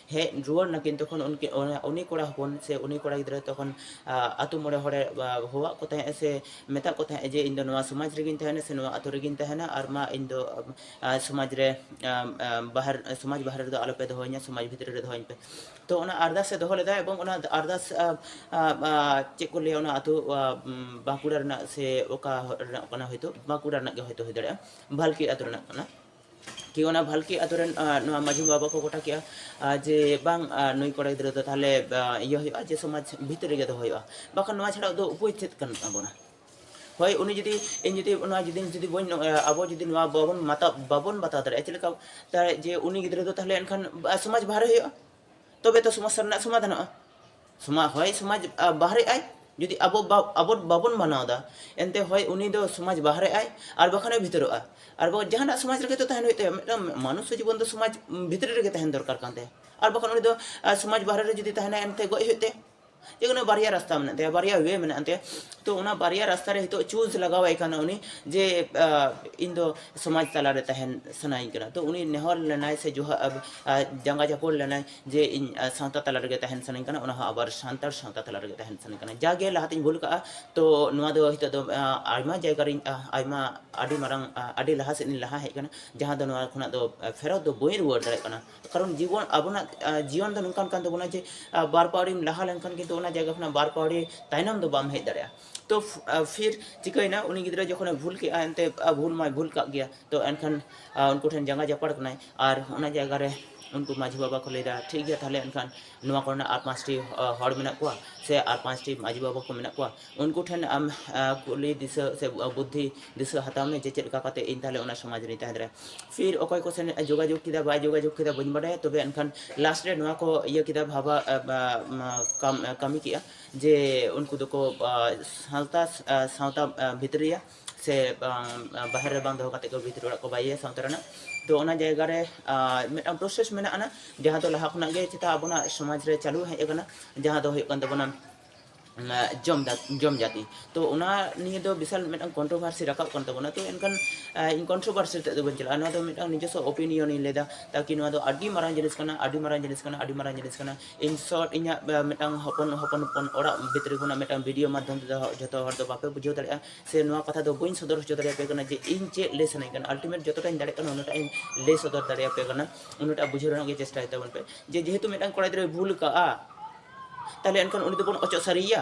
ᱦᱮᱡ ᱨᱩᱣᱟᱹᱲ ᱱᱟᱠᱤᱱ ᱛᱚᱠᱷᱚᱱ ᱩᱱᱠᱤᱱ ᱩᱱᱤ ᱠᱚᱲᱟ ᱦᱚᱯᱚᱱ ᱥᱮ ᱩᱱᱤ ᱠᱚᱲᱟ ᱜᱤᱫᱽᱨᱟᱹ ᱛᱚᱠᱷᱚᱱ ᱟᱛᱳ ᱢᱚᱬᱮ ᱦᱚᱲᱮ ᱦᱚᱦᱚᱣᱟᱫ ᱠᱚ ᱛᱟᱦᱮᱸᱫ ᱥᱮ ᱢᱮᱛᱟᱫ ᱠᱚ ᱛᱟᱦᱮᱸᱫ ᱡᱮ ᱤᱧ ᱫᱚ ᱱᱚᱣᱟ ᱥᱚᱢᱟᱡᱽ ᱨᱮᱜᱮᱧ ᱛᱟᱦᱮᱱᱟ ᱥᱮ ᱱᱚᱣᱟ ᱟᱛᱳ ᱨᱮᱜᱮᱧ ᱛᱟᱦᱮᱱᱟ ᱟᱨ ᱢᱟ ᱤᱧ ᱫᱚ ᱥᱚᱢᱟᱡᱽ ᱨᱮ ᱵᱟᱦᱮᱨ ᱥᱚᱢᱟᱡᱽ ᱵᱟᱦᱨᱮ ᱨᱮᱫᱚ ᱟᱞᱚᱯᱮ ᱫᱚᱦᱚᱧᱟ ᱥᱚᱢᱟᱡᱽ ᱵᱷᱤᱛᱨᱤ ᱨᱮ ᱫᱚᱦᱚᱧ ᱯᱮ ᱛᱚ ᱚᱱᱟ ᱟᱨᱫᱟᱥᱮ ᱫᱚᱦᱚ ᱞᱮᱫᱟ ᱮᱵᱚᱝ ᱚᱱᱟ ᱟᱨᱫᱟᱥ ᱪᱮᱫ ᱠᱚ ᱞᱟᱹᱭᱟ ᱚᱱᱟ ᱟᱛᱳ ᱵᱟᱸᱠᱩᱲᱟ ᱨᱮᱱᱟᱜ ᱥᱮ ᱚᱠᱟ ᱨᱮᱱᱟᱜ ᱠᱟᱱᱟ ᱦᱚᱭᱛᱳ ᱵᱟᱸᱠᱩᱲᱟ ᱨᱮᱱᱟᱜ ᱜᱮ ᱦᱚᱭᱛᱳ ᱦᱩᱭ ᱫᱟᱲᱮᱭᱟᱜᱼᱟ ᱵᱷᱟᱞᱠᱤ ᱟᱛᱳ ᱨᱮᱱᱟᱜ ᱠᱟᱱᱟ ᱴᱷᱤᱠ ᱚᱱᱟ ᱵᱷᱟᱞᱠᱤ ᱟᱛᱳ ᱨᱮᱱ ᱱᱚᱣᱟ ᱢᱟᱹᱡᱷᱤ ᱵᱟᱵᱟ ᱠᱚ ᱜᱚᱴᱟ ᱠᱮᱜᱼᱟ ᱡᱮ ᱵᱟᱝ ᱱᱩᱭ ᱠᱚᱲᱟ ᱜᱤᱫᱽᱨᱟᱹ ᱫᱚ ᱛᱟᱦᱞᱮ ᱤᱭᱟᱹ ᱦᱩᱭᱩᱜᱼᱟ ᱡᱮ ᱥᱚᱢᱟᱡᱽ ᱵᱷᱤᱛᱨᱤ ᱨᱮᱜᱮ ᱫᱚᱦᱚ ᱦᱩᱭᱩᱜᱼᱟ ᱵᱟᱠᱷᱟᱱ ᱱᱚᱣᱟ ᱪᱷᱟᱲᱟ ᱫᱚ ᱩᱯᱟᱹᱭ ᱪᱮᱫ ᱠᱟᱱ ᱛᱟᱵᱚᱱᱟ ᱦᱳᱭ ᱩᱱᱤ ᱡᱩᱫᱤ ᱤᱧ ᱡᱩᱫᱤ ᱱᱚᱣᱟ ᱡᱩᱫᱤ ᱡᱩᱫᱤ ᱵᱟᱹᱧ ᱟᱵᱚ ᱡᱩᱫᱤ ᱱᱚᱣᱟ ᱵᱟᱵᱚᱱ ᱢᱟᱛᱟᱣ ᱵᱟᱵᱚᱱ ᱵᱟᱛᱟᱣ ᱫᱟᱲᱮᱭᱟᱜᱼᱟ ᱪᱮᱫ ᱞᱮᱠᱟ ᱛᱟᱦᱞᱮ ᱡᱮ ᱩᱱᱤ ᱜᱤᱫᱽᱨᱟᱹ ᱫᱚ ᱛᱟᱦᱞᱮ ᱮᱱᱠᱷᱟᱱ ᱥᱚᱢᱟᱡᱽ ᱵᱟᱦᱨᱮ ᱦᱩᱭᱩᱜᱼᱟ ᱛᱚᱵᱮ ᱛᱚ ᱥᱚᱢᱚᱥᱥᱟ ᱨᱮᱱᱟᱜ ᱥᱚᱢᱟᱫᱷᱟᱱᱚᱜᱼᱟ ᱥᱚᱢᱟᱡᱽ ᱦᱚᱭ ᱥᱚᱢᱟᱡᱽ ᱵᱟᱦᱨᱮᱜ ᱟᱭ ᱡᱩᱫᱤ ᱟᱵᱚ ᱟᱵᱚ ᱵᱟᱵᱚᱱ ᱢᱟᱱᱟᱣ ᱮᱫᱟ ᱮᱱᱛᱮ ᱦᱚᱭ ᱩᱱᱤ ᱫᱚ ᱥᱚᱢᱟᱡᱽ ᱵᱟᱦᱨᱮᱜ ᱟᱭ ᱟᱨ ᱵᱟᱠᱷᱟᱱᱮ ᱵᱷᱤᱛᱟᱹᱨᱚᱜᱼᱟ ᱟᱨ ᱵᱟᱝ ᱡᱟᱦᱟᱱᱟᱜ ᱥᱚᱢᱟᱡᱽ ᱨᱮᱜᱮ ᱛᱚ ᱛᱟᱦᱮᱱ ᱦᱩᱭᱩᱜ ᱛᱟᱭᱟ ᱢᱤᱫᱴᱟᱝ ᱢᱟᱹᱱᱩᱥ ᱡᱤᱵᱚᱱ ᱫᱚ ᱥᱚᱢᱟᱡᱽ ᱵᱷᱤᱛᱨᱤ ᱨᱮᱜᱮ ᱛᱟᱦᱮᱱ ᱫᱚᱨᱠᱟᱨ ᱠᱟᱱ ᱛᱟᱭᱟ ᱟᱨ ᱵᱟᱠᱷᱟᱱ ᱩᱱᱤ ᱫᱚ ᱥᱚᱢᱟᱡᱽ ᱵᱟᱦᱨᱮ ᱨᱮ ᱡᱩᱫᱤ ᱛᱟᱦᱮᱱᱟᱭ ᱮᱱᱛᱮ ᱜᱚᱡ ᱦᱩᱭᱩᱜ ᱛᱟᱭᱟ ᱡᱮ ᱠᱳᱱᱳ ᱵᱟᱨᱭᱟ ᱨᱟᱥᱛᱟ ᱢᱮᱱᱟᱜ ᱛᱟᱭᱟ ᱵᱟᱨᱭᱟ ᱳᱭᱮ ᱢᱮᱱᱟᱜ ᱛᱟᱭᱟ ᱛᱚ ᱚᱱᱟ ᱵᱟᱨᱭᱟ ᱨᱟᱥᱛᱟ ᱨᱮ ᱱᱤᱛᱚᱜ ᱪᱩᱡᱽ ᱞᱟᱜᱟᱣ ᱟᱭ ᱠᱟᱱᱟ ᱩᱱᱤ ᱡᱮ ᱤᱧ ᱫᱚ ᱥᱚᱢᱟᱡᱽ ᱛᱟᱞᱟᱨᱮ ᱛᱟᱦᱮᱱ ᱥᱟᱱᱟᱭᱤᱧ ᱠᱟᱱᱟ ᱛᱚ ᱩᱱᱤ ᱱᱮᱦᱚᱨ ᱞᱮᱱᱟᱭ ᱥᱮ ᱡᱟᱸᱜᱟ ᱡᱟᱹᱯᱩᱫ ᱞᱮᱱᱟᱭ ᱡᱮ ᱤᱧ ᱥᱟᱶᱛᱟ ᱛᱟᱞᱟ ᱨᱮᱜᱮ ᱛᱟᱦᱮᱱ ᱥᱟᱱᱟᱧ ᱠᱟᱱᱟ ᱚᱱᱟ ᱦᱚᱸ ᱟᱵᱟᱨ ᱥᱟᱱᱛᱟᱲ ᱥᱟᱶᱛᱟ ᱛᱟᱞᱟ ᱨᱮᱜᱮ ᱛᱟᱦᱮᱱ ᱥᱟᱱᱟᱧ ᱠᱟᱱᱟ ᱡᱟᱜᱮ ᱞᱟᱦᱟᱛᱤᱧ ᱵᱷᱩᱞ ᱠᱟᱜᱼᱟ ᱛᱚ ᱱᱚᱣᱟ ᱫᱚ ᱱᱤᱛᱚᱜ ᱫᱚ ᱟᱭᱢᱟ ᱡᱟᱭᱜᱟ ᱨᱤᱧ ᱟᱭᱢᱟ ᱟᱹᱰᱤ ᱢᱟᱨᱟᱝ ᱟᱹᱰᱤ ᱞᱟᱦᱟ ᱥᱮᱫ ᱤᱧ ᱞᱟᱦᱟ ᱦᱮᱡ ᱠᱟᱱᱟ ᱡᱟᱦᱟᱸ ᱫᱚ ᱱᱚᱣᱟ ᱠᱷᱚᱱᱟᱜ ᱫᱚ ᱯᱷᱮᱨᱚᱛ ᱫᱚ ᱵᱟᱹᱧ ᱨᱩᱣᱟᱹᱲ ᱫᱟᱲᱮᱭᱟᱜ ᱠᱟᱱᱟ ᱠᱟᱨᱚᱱ ᱡᱤᱵᱚᱱ ᱟᱵᱚᱱᱟᱜ ᱡᱤᱭᱚᱱ ᱫᱚ ᱱᱚᱝᱠᱟᱱ ᱠᱟᱱ ᱛᱟᱵᱚᱱᱟ ᱡᱮ ᱵᱟᱨ ᱯᱟᱣᱲᱤᱢ ᱞᱟᱦᱟ ᱞᱮᱱᱠᱷᱟᱱ ᱠᱤᱱᱛᱩ ᱚᱱᱟ ᱡᱟᱭᱜᱟ ᱠᱷᱚᱱᱟᱜ ᱵᱟᱨ ᱯᱟᱣᱲᱤ ᱛᱟᱭᱱᱚᱢ ᱫᱚ ᱵᱟᱢ ᱦᱮᱡ ᱫᱟᱲᱮᱭᱟᱜᱼᱟ ᱛᱚ ᱯᱷᱤᱨ ᱪᱤᱠᱟᱹᱭᱮᱱᱟ ᱩᱱᱤ ᱜᱤᱫᱽᱨᱟᱹ ᱡᱚᱠᱷᱚᱱᱮ ᱵᱷᱩᱞ ᱠᱮᱫᱼᱟ ᱮᱱᱛᱮ ᱵᱷᱩᱞ ᱢᱟᱭ ᱵᱷᱩᱞ ᱠᱟᱜ ᱜᱮᱭᱟ ᱛᱚ ᱮᱱᱠᱷᱟᱱ ᱩᱱᱠᱩ ᱴᱷᱮᱱ ᱡᱟᱸᱜᱟ ᱡᱟᱯᱟᱲ ᱠᱟᱱᱟᱭ ᱟᱨ ᱚᱱᱟ ᱡᱟᱭᱜᱟ ᱨᱮ ᱩᱱᱠᱩ ᱢᱟᱹᱡᱷᱤ ᱵᱟᱵᱟ ᱠᱚ ᱞᱟᱹᱭᱫᱟ ᱴᱷᱤᱠ ᱜᱮᱭᱟ ᱛᱟᱦᱚᱞᱮ ᱮᱱᱠᱷᱟᱱ ᱱᱚᱣᱟ ᱠᱚᱨᱮᱱᱟᱜ ᱟᱨ ᱯᱟᱸᱪᱴᱤ ᱦᱚᱲ ᱢᱮᱱᱟᱜ ᱠᱚᱣᱟ ᱥᱮ ᱟᱨ ᱯᱟᱸᱪᱴᱤ ᱢᱟᱹᱡᱷᱤ ᱵᱟᱵᱟ ᱠᱚ ᱢᱮᱱᱟᱜ ᱠᱚᱣᱟ ᱩᱱᱠᱩ ᱴᱷᱮᱱ ᱟᱢ ᱠᱩᱞᱤ ᱫᱤᱥᱟᱹ ᱥᱮ ᱵᱩᱫᱽᱫᱷᱤ ᱫᱤᱥᱟᱹ ᱦᱟᱛᱟᱣ ᱢᱮ ᱡᱮ ᱪᱮᱫ ᱞᱮᱠᱟ ᱠᱟᱛᱮ ᱤᱧ ᱛᱟᱦᱚᱞᱮ ᱚᱱᱟ ᱥᱚᱢᱟᱡᱽ ᱨᱤᱧ ᱛᱟᱦᱮᱸ ᱫᱟᱲᱮᱭᱟᱜᱼᱟ ᱯᱷᱤᱨ ᱚᱠᱚᱭ ᱠᱚ ᱥᱮᱱ ᱡᱳᱜᱟᱡᱳᱜᱽ ᱠᱮᱫᱟ ᱵᱟᱭ ᱡᱳᱜᱟᱡᱳᱜᱽ ᱠᱮᱫᱟ ᱵᱟᱹᱧ ᱵᱟᱰᱟᱭᱟ ᱛᱚᱵᱮ ᱮᱱᱠᱷᱟᱱ ᱞᱟᱥᱴ ᱨᱮ ᱱᱚᱣᱟ ᱠᱚ ᱤᱭᱟᱹ ᱠᱮᱫᱟ ᱵᱷᱟᱵᱟ ᱠᱟᱹᱢᱤ ᱠᱮᱫᱼᱟ ᱡᱮ ᱩᱱᱠᱩ ᱫᱚᱠᱚ ᱥᱟᱶᱛᱟ ᱥᱟᱶᱛᱟ ᱵᱷᱤᱛᱨᱤᱭᱟ ᱥᱮ ᱵᱟᱦᱮᱨ ᱨᱮ ᱵᱟᱝ ᱫᱚᱦᱚ ᱠᱟᱛᱮ ᱜᱮ ᱵᱷᱤᱛᱨᱤ ᱚᱲᱟᱜ ᱠᱚ ᱵᱟᱭᱮᱭᱟ ᱥᱟᱶᱛᱟ ᱨᱮᱱᱟᱜ ᱛᱚ ᱚᱱᱟ ᱡᱟᱭᱜᱟ ᱨᱮ ᱢᱤᱫᱴᱟᱝ ᱯᱨᱚᱥᱮᱥ ᱢᱮᱱᱟᱜ ᱟᱱᱟ ᱡᱟᱦᱟᱸ ᱫᱚ ᱞᱟᱦᱟ ᱠᱷᱚᱱᱟᱜ ᱜᱮ ᱪᱮᱛᱟ ᱟᱵᱚᱱᱟᱜ ᱥᱚᱢᱟᱡᱽ ᱨᱮ ᱪᱟᱹᱞᱩ ᱦᱮᱡ ᱟᱠᱟᱱᱟ ᱡᱟᱦᱟᱸ ᱫᱚ ᱦᱩᱭᱩᱜ ᱠᱟᱱ ᱛᱟᱵᱚᱱᱟ ᱡᱚᱢ ᱡᱚᱢ ᱡᱟᱹᱛᱤ ᱛᱚ ᱚᱱᱟ ᱱᱤᱭᱮ ᱫᱚ ᱵᱤᱥᱟᱞ ᱢᱤᱫᱴᱟᱝ ᱠᱚᱱᱴᱨᱳᱵᱷᱟᱨᱥᱤ ᱨᱟᱠᱟᱵ ᱠᱟᱱ ᱛᱟᱵᱚᱱᱟ ᱛᱚ ᱮᱱᱠᱷᱟᱱ ᱤᱧ ᱠᱚᱱᱴᱨᱳᱵᱷᱟᱨᱥᱤ ᱛᱮᱫ ᱫᱚ ᱵᱟᱹᱧ ᱪᱟᱞᱟᱜᱼᱟ ᱱᱚᱣᱟ ᱫᱚ ᱢᱤᱫᱴᱟᱝ ᱱᱤᱡᱚᱥᱥᱚ ᱚᱯᱤᱱᱤᱭᱚᱱ ᱤᱧ ᱞᱟᱹᱭᱫᱟ ᱛᱟᱠᱤ ᱱᱚᱣᱟ ᱫᱚ ᱟᱹᱰᱤ ᱢᱟᱨᱟᱝ ᱡᱤᱱᱤᱥ ᱠᱟᱱᱟ ᱟᱹᱰᱤ ᱢᱟᱨᱟᱝ ᱡᱤᱱᱤᱥ ᱠᱟᱱᱟ ᱟᱹᱰᱤ ᱢᱟᱨᱟᱝ ᱡᱤᱱᱤᱥ ᱠᱟᱱᱟ ᱤᱱ ᱥᱚᱨᱴ ᱤᱧᱟᱹᱜ ᱢᱤᱫᱴᱟᱝ ᱦᱚᱯᱚᱱ ᱦᱚᱯᱚᱱ ᱦᱚᱯᱚᱱ ᱚᱲᱟᱜ ᱵᱷᱤᱛᱨᱤ ᱠᱷᱚᱱᱟᱜ ᱢᱤᱫᱴᱟᱝ ᱵᱷᱤᱰᱤᱭᱳ ᱢᱟᱫᱽᱫᱷᱚᱢ ᱛᱮᱫᱚ ᱡᱚᱛᱚ ᱦᱚᱲ ᱫᱚ ᱵᱟᱯᱮ ᱵᱩᱡᱷᱟᱹᱣ ᱫᱟᱲᱮᱭᱟᱜᱼᱟ ᱥᱮ ᱱᱚᱣᱟ ᱠᱟᱛᱷᱟ ᱫᱚ ᱵᱟᱹᱧ ᱥᱚᱫᱚᱨ ᱦᱚᱪᱚ ᱫᱟᱲᱮᱭᱟᱯᱮ ᱠᱟᱱᱟ ᱡᱮ ᱤᱧ ᱪᱮᱫ ᱞᱟᱹᱭ ᱥᱟᱱᱟᱧ ᱠᱟᱱᱟ ᱟᱞᱴᱤᱢᱮᱴ ᱡᱚᱛᱚᱴᱟᱧ ᱫᱟᱲᱮᱭᱟᱜ ᱠᱟᱱᱟ ᱩᱱᱟᱹᱜᱴᱟᱜ ᱤᱧ ᱞᱟᱹᱭ ᱥᱚᱫᱚᱨ ᱫᱟᱲᱮᱭᱟᱯᱮ ᱠᱟᱱᱟ ᱩᱱᱟᱹᱜᱴᱟᱜ ᱵᱩᱡᱷᱟᱹᱣ ᱨᱮᱱᱟᱜ ᱜᱮ ᱪᱮᱥᱴᱟᱭ ᱛᱟᱵᱚᱱ ᱯᱮ ᱡᱮ ᱡᱮᱦᱮᱛᱩ ᱢᱤᱫᱴᱟᱝ ᱠᱚᱲᱟ ᱜᱤᱫᱽᱨᱟᱹᱭ ᱵᱷᱩᱞ ᱠᱟᱜᱼᱟ ᱛᱟᱦᱚᱞᱮ ᱮᱱᱠᱷᱟᱱ ᱩᱱᱤ ᱫᱚᱵᱚᱱ ᱚᱪᱚᱜ ᱥᱟᱹᱨᱤᱭᱮᱭᱟ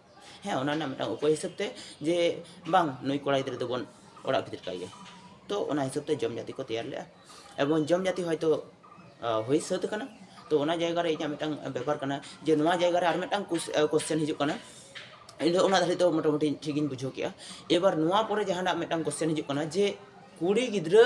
ᱦᱮᱸ ᱚᱱᱟ ᱨᱮᱱᱟᱜ ᱢᱤᱫᱴᱟᱝ ᱩᱯᱟᱹᱭ ᱦᱤᱥᱟᱹᱵ ᱛᱮ ᱡᱮ ᱵᱟᱝ ᱱᱩᱭ ᱠᱚᱲᱟ ᱜᱤᱫᱽᱨᱟᱹ ᱫᱚᱵᱚᱱ ᱚᱲᱟᱜ ᱵᱷᱤᱛᱤᱨ ᱠᱟᱭ ᱜᱮ ᱛᱚ ᱚᱱᱟ ᱦᱤᱥᱟᱹᱵ ᱛᱮ ᱡᱚᱢ ᱡᱟᱹᱛᱤ ᱠᱚ ᱛᱮᱭᱟᱨ ᱞᱮᱫᱼᱟ ᱮᱵᱚᱝ ᱡᱚᱢ ᱡᱟᱹᱛᱤ ᱦᱚᱭᱛᱳ ᱦᱩᱭ ᱥᱟᱹᱛ ᱟᱠᱟᱱᱟ ᱛᱚ ᱚᱱᱟ ᱡᱟᱭᱜᱟ ᱨᱮ ᱤᱧᱟᱹᱜ ᱢᱤᱫᱴᱟᱝ ᱵᱮᱯᱟᱨ ᱠᱟᱱᱟ ᱡᱮ ᱱᱚᱣᱟ ᱡᱟᱭᱜᱟ ᱨᱮ ᱟᱨ ᱢᱤᱫᱴᱟᱝ ᱠᱚᱥᱪᱮᱱ ᱦᱤᱡᱩᱜ ᱠᱟᱱᱟ ᱤᱧ ᱫᱚ ᱚᱱᱟ ᱫᱷᱟᱹᱨᱤᱡ ᱫᱚ ᱢᱚᱴᱟᱢᱩᱴᱤ ᱴᱷᱤᱠ ᱤᱧ ᱵᱩᱡᱷᱟᱹᱣ ᱠᱮᱜᱼᱟ ᱮᱵᱟᱨ ᱱᱚᱣᱟ ᱯᱚᱨᱮ ᱡᱟᱦᱟᱱᱟᱜ ᱢᱤᱫᱴᱟᱝ ᱠᱚᱥᱪᱮᱱ ᱦᱤᱡᱩᱜ ᱠᱟᱱᱟ ᱡᱮ ᱠᱩᱲᱤ ᱜᱤᱫᱽᱨᱟᱹ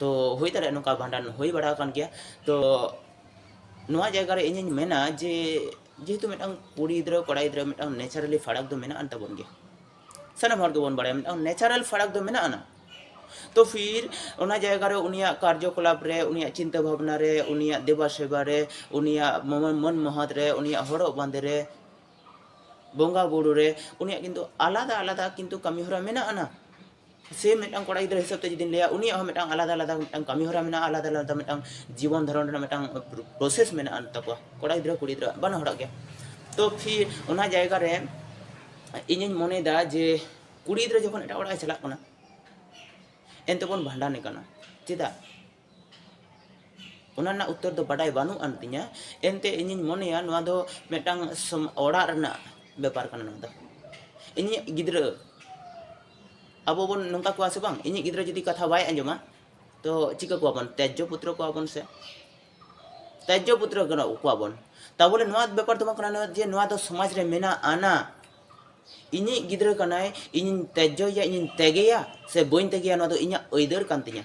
ᱛᱚ ᱦᱩᱭ ᱫᱟᱲᱮᱭᱟᱜᱼᱟ ᱱᱚᱝᱠᱟ ᱵᱷᱟᱸᱰᱟᱱ ᱦᱩᱭ ᱵᱟᱲᱟ ᱟᱠᱟᱱ ᱜᱮᱭᱟ ᱛᱚ ᱱᱚᱣᱟ ᱡᱟᱭᱜᱟ ᱨᱮ ᱤᱧᱤᱧ ᱢᱮᱱᱟ ᱡᱮ ᱡᱮᱦᱮᱛᱩ ᱢᱤᱫᱴᱟᱝ ᱠᱩᱲᱤ ᱜᱤᱫᱽᱨᱟᱹ ᱠᱚᱲᱟ ᱜᱤᱫᱽᱨᱟᱹ ᱢᱤᱫᱴᱟᱝ ᱱᱮᱪᱟᱨᱟᱞᱤ ᱯᱷᱟᱨᱟᱠ ᱫᱚ ᱢᱮᱱᱟᱜ ᱟᱱ ᱛᱟᱵᱚᱱ ᱜᱮᱭᱟ ᱥᱟᱱᱟᱢ ᱦᱚᱲ ᱜᱮᱵᱚᱱ ᱵᱟᱲᱟᱭᱟ ᱢᱤᱫᱴᱟᱝ ᱱᱮᱪᱟᱨᱟᱞ ᱯᱷᱟᱨᱟᱠ ᱫᱚ ᱢᱮᱱᱟᱜ ᱟᱱᱟ ᱛᱚ ᱯᱷᱤᱨ ᱚᱱᱟ ᱡᱟᱭᱜᱟ ᱨᱮ ᱩᱱᱤᱭᱟᱜ ᱠᱟᱨᱡᱚᱠᱚᱞᱟᱯ ᱨᱮ ᱩᱱᱤᱭᱟᱜ ᱪᱤᱱᱛᱟᱹ ᱵᱷᱟᱵᱽᱱᱟ ᱨᱮ ᱩᱱᱤᱭᱟᱜ ᱫᱮᱵᱟ ᱥᱮᱵᱟ ᱨᱮ ᱩᱱᱤᱭᱟᱜ ᱢᱟᱹᱱ ᱢᱚᱦᱚᱛ ᱨᱮ ᱩᱱᱤᱭᱟᱜ ᱦᱚᱨᱚᱜ ᱵᱟᱸᱫᱮ ᱨᱮ ᱵᱚᱸᱜᱟ ᱵᱩᱨᱩ ᱨᱮ ᱩᱱᱤᱭᱟᱜ ᱠᱤᱱᱛᱩ ᱟᱞᱟᱫᱟ ᱟᱞᱟᱫᱟ ᱠᱤᱱᱛᱩ ᱠᱟᱹᱢᱤ ᱦᱚᱨᱟ ᱢᱮᱱᱟᱜ ᱟᱱᱟ ᱥᱮ ᱢᱤᱫᱴᱟᱝ ᱠᱚᱲᱟ ᱜᱤᱫᱽᱨᱟᱹ ᱦᱤᱥᱟᱹᱵ ᱛᱮ ᱡᱩᱫᱤᱧ ᱞᱟᱹᱭᱟ ᱩᱱᱤᱭᱟᱜ ᱦᱚᱸ ᱢᱤᱫᱴᱟᱝ ᱟᱞᱟᱫᱟ ᱟᱞᱟᱫᱟ ᱢᱤᱫᱴᱟᱝ ᱠᱟᱹᱢᱤ ᱦᱚᱨᱟ ᱢᱮᱱᱟᱜᱼᱟ ᱟᱞᱟᱫᱟ ᱟᱞᱟᱫᱟ ᱢᱤᱫᱴᱟᱝ ᱡᱤᱵᱚᱱ ᱫᱷᱟᱨᱚᱱ ᱨᱮᱱᱟᱜ ᱢᱤᱫᱴᱟᱝ ᱯᱨᱚᱥᱮᱥ ᱢᱮᱱᱟᱜ ᱟᱱ ᱛᱟᱠᱚᱣᱟ ᱠᱚᱲᱟ ᱜᱤᱫᱽᱨᱟᱹ ᱠᱩᱲᱤ ᱜᱤᱫᱽᱨᱟᱹ ᱵᱟᱱᱟ ᱦᱚᱲᱟᱜ ᱜᱮ ᱛᱚ ᱯᱷᱤᱨ ᱚᱱᱟ ᱡᱟᱭᱜᱟ ᱨᱮ ᱤᱧᱤᱧ ᱢᱚᱱᱮᱭᱮᱫᱟ ᱡᱮ ᱠᱩᱲᱤ ᱜᱤᱫᱽᱨᱟᱹ ᱡᱚᱠᱷᱚᱱ ᱮᱴᱟᱜ ᱚᱲᱟᱜ ᱮ ᱪᱟᱞᱟᱜ ᱠᱟᱱᱟ ᱮᱱᱛᱮ ᱵᱚᱱ ᱵᱷᱟᱸᱰᱟᱱᱮ ᱠᱟᱱᱟ ᱪᱮᱫᱟᱜ ᱚᱱᱟ ᱨᱮᱱᱟᱜ ᱩᱛᱛᱚᱨ ᱫᱚ ᱵᱟᱰᱟᱭ ᱵᱟᱹᱱᱩᱜ ᱟᱱ ᱛᱤᱧᱟᱹ ᱮᱱᱛᱮ ᱤᱧᱤᱧ ᱢᱚᱱᱮᱭᱟ ᱱᱚᱣᱟ ᱫᱚ ᱢᱤᱫᱴᱟᱝ ᱚᱲᱟᱜ ᱨᱮᱱᱟᱜ ᱵᱮᱯᱟᱨ ᱠᱟᱱᱟ ᱱᱚᱣᱟ ᱫᱚ ᱤᱧᱤᱡ ᱜᱤᱫᱽᱨᱟᱹ ᱟᱵᱚ ᱵᱚᱱ ᱱᱚᱝᱠᱟ ᱠᱚᱣᱟ ᱥᱮ ᱵᱟᱝ ᱤᱧᱤᱡ ᱜᱤᱫᱽᱨᱟᱹ ᱡᱩᱫᱤ ᱠᱟᱛᱷᱟ ᱵᱟᱭ ᱟᱸᱡᱚᱢᱟ ᱛᱚ ᱪᱤᱠᱟᱹ ᱠᱚᱣᱟ ᱵᱚᱱ ᱛᱮᱡᱽᱡᱚ ᱯᱩᱛᱨᱚ ᱠᱚᱣᱟ ᱵᱚᱱ ᱥᱮ ᱛᱮᱡᱽᱡᱚ ᱯᱩᱛᱨᱚ ᱠᱟᱱᱟ ᱠᱚᱣᱟ ᱵᱚᱱ ᱛᱟᱵᱚᱞᱮ ᱱᱚᱣᱟ ᱵᱮᱯᱟᱨ ᱫᱚ ᱵᱟᱝ ᱠᱟᱱᱟ ᱡᱮ ᱱᱚᱣᱟ ᱫᱚ ᱥᱚᱢᱟᱡᱽ ᱨᱮ ᱢᱮᱱᱟᱜ ᱟᱱᱟ ᱤᱧᱤᱡ ᱜᱤᱫᱽᱨᱟᱹ ᱠᱟᱱᱟᱭ ᱤᱧᱤᱧ ᱛᱮᱡᱽᱡᱚᱭᱮᱭᱟ ᱤᱧᱤᱧ ᱛᱮᱜᱮᱭᱟ ᱥᱮ ᱵᱟᱹᱧ ᱛᱮᱜᱮᱭᱟ ᱱᱚᱣᱟ ᱫᱚ ᱤᱧᱟᱹᱜ ᱟᱹᱭᱫᱟᱹᱨ ᱠᱟᱱ ᱛᱤᱧᱟᱹ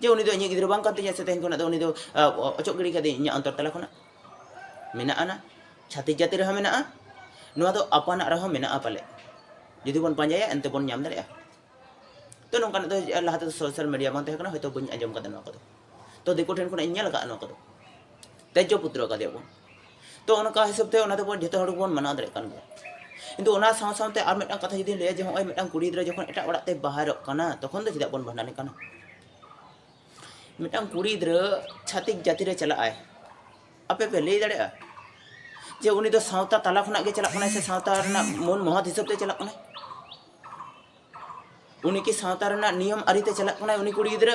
ᱡᱮ ᱩᱱᱤ ᱫᱚ ᱤᱧᱤᱡ ᱜᱤᱫᱽᱨᱟᱹ ᱵᱟᱝ ᱠᱟᱱ ᱛᱤᱧᱟ ᱥᱮ ᱛᱮᱦᱮᱧ ᱠᱷᱚᱱᱟᱜ ᱫᱚ ᱩᱱᱤ ᱫᱚ ᱚᱪᱚᱜ ᱜᱤᱰᱤ ᱠᱟᱫᱮᱭᱟᱹᱧ ᱤᱧᱟᱹᱜ ᱚᱱᱛᱚᱨ ᱛᱟᱞᱟ ᱠᱷᱚᱱᱟᱜ ᱢᱮᱱᱟᱜᱼᱟ ᱪᱷᱟᱹᱛᱤᱠ ᱡᱟᱹᱛᱤ ᱨᱮᱦᱚᱸ ᱢᱮᱱᱟᱜᱼᱟ ᱱᱚᱣᱟ ᱫᱚ ᱟᱯᱟᱱᱟᱜ ᱨᱮᱦᱚᱸ ᱢᱮᱱᱟᱜᱼᱟ ᱯᱟᱞᱮ ᱡᱩᱫᱤ ᱵᱚᱱ ᱯᱟᱸᱡᱟᱭᱟ ᱮᱱᱛᱮ ᱵᱚᱱ ᱧᱟᱢ ᱫᱟᱲᱮᱭᱟᱜᱼᱟ ᱛᱚ ᱱᱚᱝᱠᱟᱱᱟᱜ ᱫᱚ ᱞᱟᱦᱟ ᱛᱮᱫᱚ ᱥᱳᱥᱟᱞ ᱢᱤᱰᱤᱭᱟ ᱵᱟᱝ ᱛᱟᱦᱮᱸ ᱠᱟᱱᱟ ᱦᱚᱭᱛᱳ ᱵᱟᱹᱧ ᱟᱸᱡᱚᱢ ᱠᱟᱫᱟ ᱱᱚᱣᱟ ᱠᱚᱫᱚ ᱛᱚ ᱫᱤᱠᱩ ᱴᱷᱮᱱ ᱠᱷᱚᱱᱟᱜ ᱤᱧ ᱧᱮᱞ ᱟᱠᱟᱫᱼᱟ ᱱᱚᱣᱟ ᱠᱚᱫᱚ ᱛᱮᱡᱽᱡᱚ ᱯᱩᱛᱨᱚ ᱠᱟᱫᱮᱭᱟᱵᱚᱱ ᱛᱚ ᱚᱱᱠᱟ ᱦᱤᱥᱟᱹᱵ ᱛᱮ ᱚᱱᱟ ᱫᱚᱵᱚᱱ ᱡᱚᱛᱚ ᱦᱚᱲ ᱜᱮᱵᱚᱱ ᱢᱟᱱᱟᱣ ᱫᱟᱲᱮᱭᱟᱜ ᱠᱟᱱ ᱜᱮᱭᱟ ᱠᱤᱱᱛᱩ ᱚᱱᱟ ᱥᱟᱶ ᱥᱟᱶᱛᱮ ᱟᱨ ᱢᱤᱫᱴᱟᱝ ᱠᱟᱛᱷᱟ ᱡᱩᱫᱤ ᱞᱟᱹᱭᱟ ᱡᱮ ᱦᱚᱸᱜᱼᱚᱭ ᱢᱤᱫᱴᱟᱝ ᱠᱩᱲᱤ ᱜᱤᱫᱽᱨᱟᱹ ᱡᱚᱠᱷᱚᱱ ᱮᱴᱟᱜ ᱚᱲᱟᱜ ᱛᱮ ᱵᱟᱦᱮᱨᱚᱜ ᱠᱟᱱᱟ ᱛᱚᱠᱷᱚᱱ ᱫᱚ ᱪᱮᱫᱟᱜ ᱵᱚᱱ ᱵᱷᱟᱸᱰᱟᱱᱮ ᱠᱟᱱᱟ ᱢᱤᱫᱴᱟᱝ ᱠᱩᱲᱤ ᱜᱤᱫᱽᱨᱟᱹ ᱪᱷᱟᱛᱤᱠ ᱡᱟᱹᱛᱤ ᱨᱮ ᱪᱟᱞᱟᱜ ᱟᱭ ᱟᱯᱮ ᱯᱮ ᱞᱟᱹᱭ ᱫᱟᱲᱮᱭᱟᱜᱼᱟ ᱡᱮ ᱩᱱᱤ ᱫᱚ ᱥᱟᱶᱛᱟ ᱛᱟᱞᱟ ᱠᱷᱚᱱᱟᱜ ᱜᱮ ᱪᱟᱞᱟᱜ ᱠᱟᱱᱟᱭ ᱥᱮ ᱥᱟᱶᱛᱟ ᱨᱮᱱᱟᱜ ᱢᱚᱱ ᱢᱚᱦᱚᱛ ᱦᱤᱥᱟᱹᱵ ᱛᱮ ᱪᱟᱞᱟᱜ ᱠᱟᱱᱟᱭ ᱩᱱᱤ ᱠᱤ ᱥᱟᱶᱛᱟ ᱨᱮᱱᱟᱜ ᱱᱤᱭᱚᱢ ᱟᱹᱨᱤᱛᱮ ᱪᱟᱞᱟᱜ ᱠᱟᱱᱟᱭ ᱩᱱᱤ ᱠᱩᱲᱤ ᱜᱤᱫᱽᱨᱟᱹ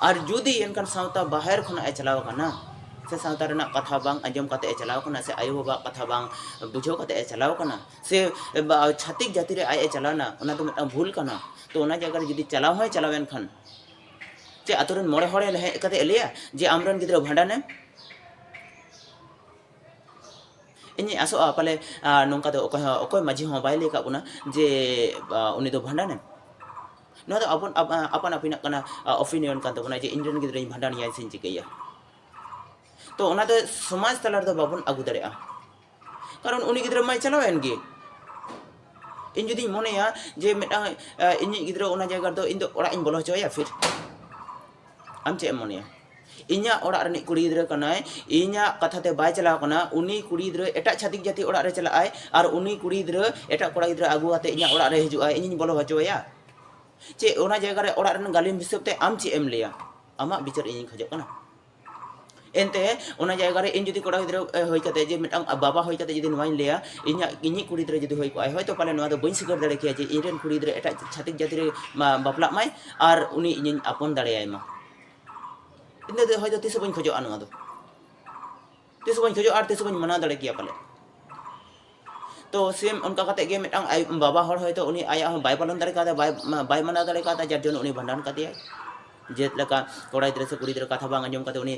ᱟᱨ ᱡᱩᱫᱤ ᱮᱱᱠᱷᱟᱱ ᱥᱟᱶᱛᱟ ᱵᱟᱦᱮᱨ ᱠᱷᱚᱱᱟᱜ ᱮ ᱪᱟᱞᱟᱣ ᱟᱠᱟᱱᱟ ᱥᱮ ᱥᱟᱶᱛᱟ ᱨᱮᱱᱟᱜ ᱠᱟᱛᱷᱟ ᱵᱟᱝ ᱟᱸᱡᱚᱢ ᱠᱟᱛᱮ ᱮ ᱪᱟᱞᱟᱣ ᱟᱠᱟᱱᱟ ᱥᱮ ᱟᱭᱳ ᱵᱟᱵᱟᱣᱟᱜ ᱠᱟᱛᱷᱟ ᱵᱟᱝ ᱵᱩᱡᱷᱟᱹᱣ ᱠᱟᱛᱮ ᱮ ᱪᱟᱞᱟᱣ ᱟᱠᱟᱱᱟ ᱥᱮ ᱪᱷᱟᱛᱤᱠ ᱡᱟᱹᱛᱤ ᱨᱮ ᱟᱡ ᱮ ᱪᱟᱞᱟᱣᱱᱟ ᱚᱱᱟ ᱫᱚ ᱢᱤᱫᱴᱟᱝ ᱵᱷᱩᱞ ᱠᱟᱱᱟ ᱛᱚ ᱚᱱᱟ ᱡᱟᱭᱜᱟ ᱨᱮ ᱡᱩᱫᱤ ᱪᱟᱞᱟᱣ ᱦᱚᱸᱭ ᱪᱟᱞᱟᱣ ᱮᱱᱠᱷᱟᱱ ᱪᱮ ᱟᱛᱳ ᱨᱮᱱ ᱢᱚᱬᱮ ᱦᱚᱲ ᱦᱮᱡ ᱠᱟᱛᱮ ᱮ ᱞᱟᱹᱭᱟ ᱡᱮ ᱟᱢᱨᱮᱱ ᱜᱤᱫᱽᱨᱟᱹ ᱵᱷᱟᱸᱰᱟᱱᱮᱢ ᱤᱧᱤᱧ ᱟᱥᱚᱜᱼᱟ ᱯᱟᱞᱮ ᱱᱚᱝᱠᱟ ᱫᱚ ᱚᱠᱚᱭ ᱦᱚᱸ ᱚᱠᱚᱭ ᱢᱟᱹᱡᱷᱤ ᱦᱚᱸ ᱵᱟᱭ ᱞᱟᱹᱭ ᱠᱟᱜ ᱵᱚᱱᱟ ᱡᱮ ᱩᱱᱤ ᱫᱚ ᱵᱷᱟᱸᱰᱟᱱᱮᱢ ᱱᱚᱣᱟ ᱫᱚ ᱟᱵᱚᱱ ᱟᱯᱟᱱ ᱟᱹᱯᱤᱱᱟᱜ ᱠᱟᱱᱟ ᱚᱯᱤᱱᱤᱭᱚᱱ ᱠᱟᱱ ᱛᱟᱵᱚᱱᱟ ᱡᱮ ᱤᱧᱨᱮᱱ ᱜᱤᱫᱽᱨᱟᱹᱧ ᱵᱷᱟᱸᱰᱟᱱᱮᱭᱟ ᱥᱮᱧ ᱪᱤᱠᱟᱹᱭᱟ ᱛᱚ ᱚᱱᱟ ᱫᱚ ᱥᱚᱢᱟᱡᱽ ᱛᱟᱞᱟ ᱨᱮᱫᱚ ᱵᱟᱵᱚᱱ ᱟᱹᱜᱩ ᱫᱟᱲᱮᱭᱟᱜᱼᱟ ᱠᱟᱨᱚᱱ ᱩᱱᱤ ᱜᱤᱫᱽᱨᱟᱹ ᱢᱟᱭ ᱪᱟᱞᱟᱣᱮᱱ ᱜᱮ ᱤᱧ ᱡᱩᱫᱤᱧ ᱢᱚᱱᱮᱭᱟ ᱡᱮ ᱢᱤᱫᱴᱟᱝ ᱤᱧᱤᱡ ᱜᱤᱫᱽᱨᱟᱹ ᱚᱱᱟ ᱡᱟᱭᱜᱟ ᱨᱮᱫᱚ ᱤᱧ ᱫᱚ ᱚᱲᱟᱜ ᱤᱧ ᱵᱚᱞᱚ ᱦᱚᱪᱚ ᱟᱭᱟ ᱯᱷᱤᱨ ᱟᱢ ᱪᱮᱫ ᱮᱢ ᱢᱚᱱᱮᱭᱟ ᱤᱧᱟᱜ ᱚᱲᱟᱜ ᱨᱤᱱᱤᱡ ᱠᱩᱲᱤ ᱜᱤᱫᱽᱨᱟᱹ ᱠᱟᱱᱟᱭ ᱤᱧᱟᱜ ᱠᱟᱛᱷᱟ ᱛᱮ ᱵᱟᱭ ᱪᱟᱞᱟᱣ ᱟᱠᱟᱱᱟ ᱩᱱᱤ ᱠᱩᱲᱤ ᱜᱤᱫᱽᱨᱟᱹ ᱮᱴᱟᱜ ᱪᱷᱟᱹᱛᱤᱠ ᱡᱟᱹᱛᱤ ᱚᱲᱟᱜ ᱨᱮ ᱪᱟᱞᱟᱜ ᱟᱭ ᱟᱨ ᱩᱱᱤ ᱠᱩᱲᱤ ᱜᱤᱫᱽᱨᱟᱹ ᱮᱴᱟᱜ ᱠᱚᱲᱟ ᱜᱤᱫᱽᱨᱟᱹ ᱟᱹᱜᱩ ᱠᱟᱛᱮ ᱤᱧᱟᱜ ᱚᱲᱟᱜ ᱨᱮ ᱦᱤᱡᱩᱜ ᱟᱭ ᱤᱧᱤᱧ ᱵᱚᱞᱚ ᱦᱚᱪᱚ ᱟᱭᱟ ᱪᱮᱫ ᱚᱱᱟ ᱡᱟᱭᱜᱟ ᱨᱮ ᱚᱲᱟᱜ ᱨᱮᱱ ᱜᱟᱹᱞᱤᱢ ᱦᱤᱥᱟᱹᱵ ᱛᱮ ᱟᱢ ᱪᱮᱫ ᱮᱢ ᱞᱟᱹᱭᱟ ᱟᱢᱟᱜ ᱵᱤᱪᱟᱹᱨ ᱤᱧᱤᱧ ᱠᱷᱚᱡᱚᱜ ᱠᱟᱱᱟ ᱮᱱᱛᱮ ᱚᱱᱟ ᱡᱟᱭᱜᱟ ᱨᱮ ᱤᱧ ᱡᱩᱫᱤ ᱠᱚᱲᱟ ᱜᱤᱫᱽᱨᱟᱹ ᱦᱩᱭ ᱠᱟᱛᱮ ᱡᱮ ᱢᱤᱫᱴᱟᱝ ᱵᱟᱵᱟ ᱦᱩᱭ ᱠᱟᱛᱮ ᱡᱩᱫᱤ ᱱᱚᱣᱟᱧ ᱞᱟᱹᱭᱟ ᱤᱧᱟᱜ ᱤᱧᱤᱡ ᱠᱩᱲᱤ ᱜᱤᱫᱽᱨᱟᱹ ᱡᱩᱫᱤ ᱦᱩᱭ ᱠᱚᱜᱼᱟᱭ ᱦᱚᱭᱛᱚ ᱯᱟᱞᱮ ᱱᱚᱣᱟ ᱫᱚ ᱵᱟᱹᱧ ᱥᱤᱠᱟᱹᱨ ᱫᱟᱲᱮ ᱠᱮᱭᱟ ᱡᱮ ᱤᱧ ᱨᱮᱱ ᱠᱩᱲᱤ ᱜᱤᱫᱽᱨᱟᱹ ᱮᱴᱟᱜ ᱪᱷᱟᱹᱛᱤᱠ ᱡᱟᱹᱛᱤ ᱨᱮ ᱵᱟᱯᱞᱟᱜ ᱢᱟᱭ ᱟᱨ ᱩᱱᱤ ᱤᱧᱤᱧ ᱟᱯᱚᱱ ᱫᱟᱲᱮᱭᱟᱭ ᱢᱟ ᱤᱱᱟᱹ ᱫᱚ ᱦᱚᱭᱛᱳ ᱛᱤᱥ ᱵᱟᱹᱧ ᱠᱷᱚᱡᱚᱜᱼᱟ ᱱᱚᱣᱟ ᱫᱚ ᱛᱤᱥ ᱵᱟᱹᱧ ᱠᱷᱚᱡᱚᱜᱼᱟ ᱟᱨ ᱛᱤᱥ ᱵᱟᱹᱧ ᱢᱟᱱᱟᱣ ᱫᱟᱲᱮ ᱠᱮᱭᱟ ᱯᱟᱞᱮ ᱛᱚ ᱥᱮᱢ ᱚᱱᱠᱟ ᱠᱟᱛᱮ ᱜᱮ ᱢᱤᱫᱴᱟᱝ ᱟᱡ ᱵᱟᱵᱟ ᱦᱚᱲ ᱦᱚᱭᱛᱳ ᱩᱱᱤ ᱟᱭᱟᱜ ᱦᱚᱸ ᱵᱟᱭ ᱯᱟᱞᱚᱱ ᱫᱟᱲᱮ ᱠᱟᱣᱫᱟ ᱵᱟᱭ ᱵᱟᱭ ᱢᱟᱱᱟᱣ ᱫᱟᱲᱮ ᱠᱟᱣᱫᱟ ᱡᱟᱨ ᱡᱚᱱᱱᱚ ᱩᱱᱤ ᱵᱷᱟᱸᱰᱟᱱ ᱠᱟᱫᱮᱭᱟᱭ ᱡᱮᱞᱮᱠᱟ ᱠᱚᱲᱟ ᱜᱤᱫᱽᱨᱟᱹ ᱥᱮ ᱠᱩᱲᱤ ᱜᱤᱫᱽᱨᱟᱹ ᱠᱟᱛᱷᱟ ᱵᱟᱝ ᱟᱸᱡᱚᱢ ᱠᱟᱛᱮ ᱩᱱᱤ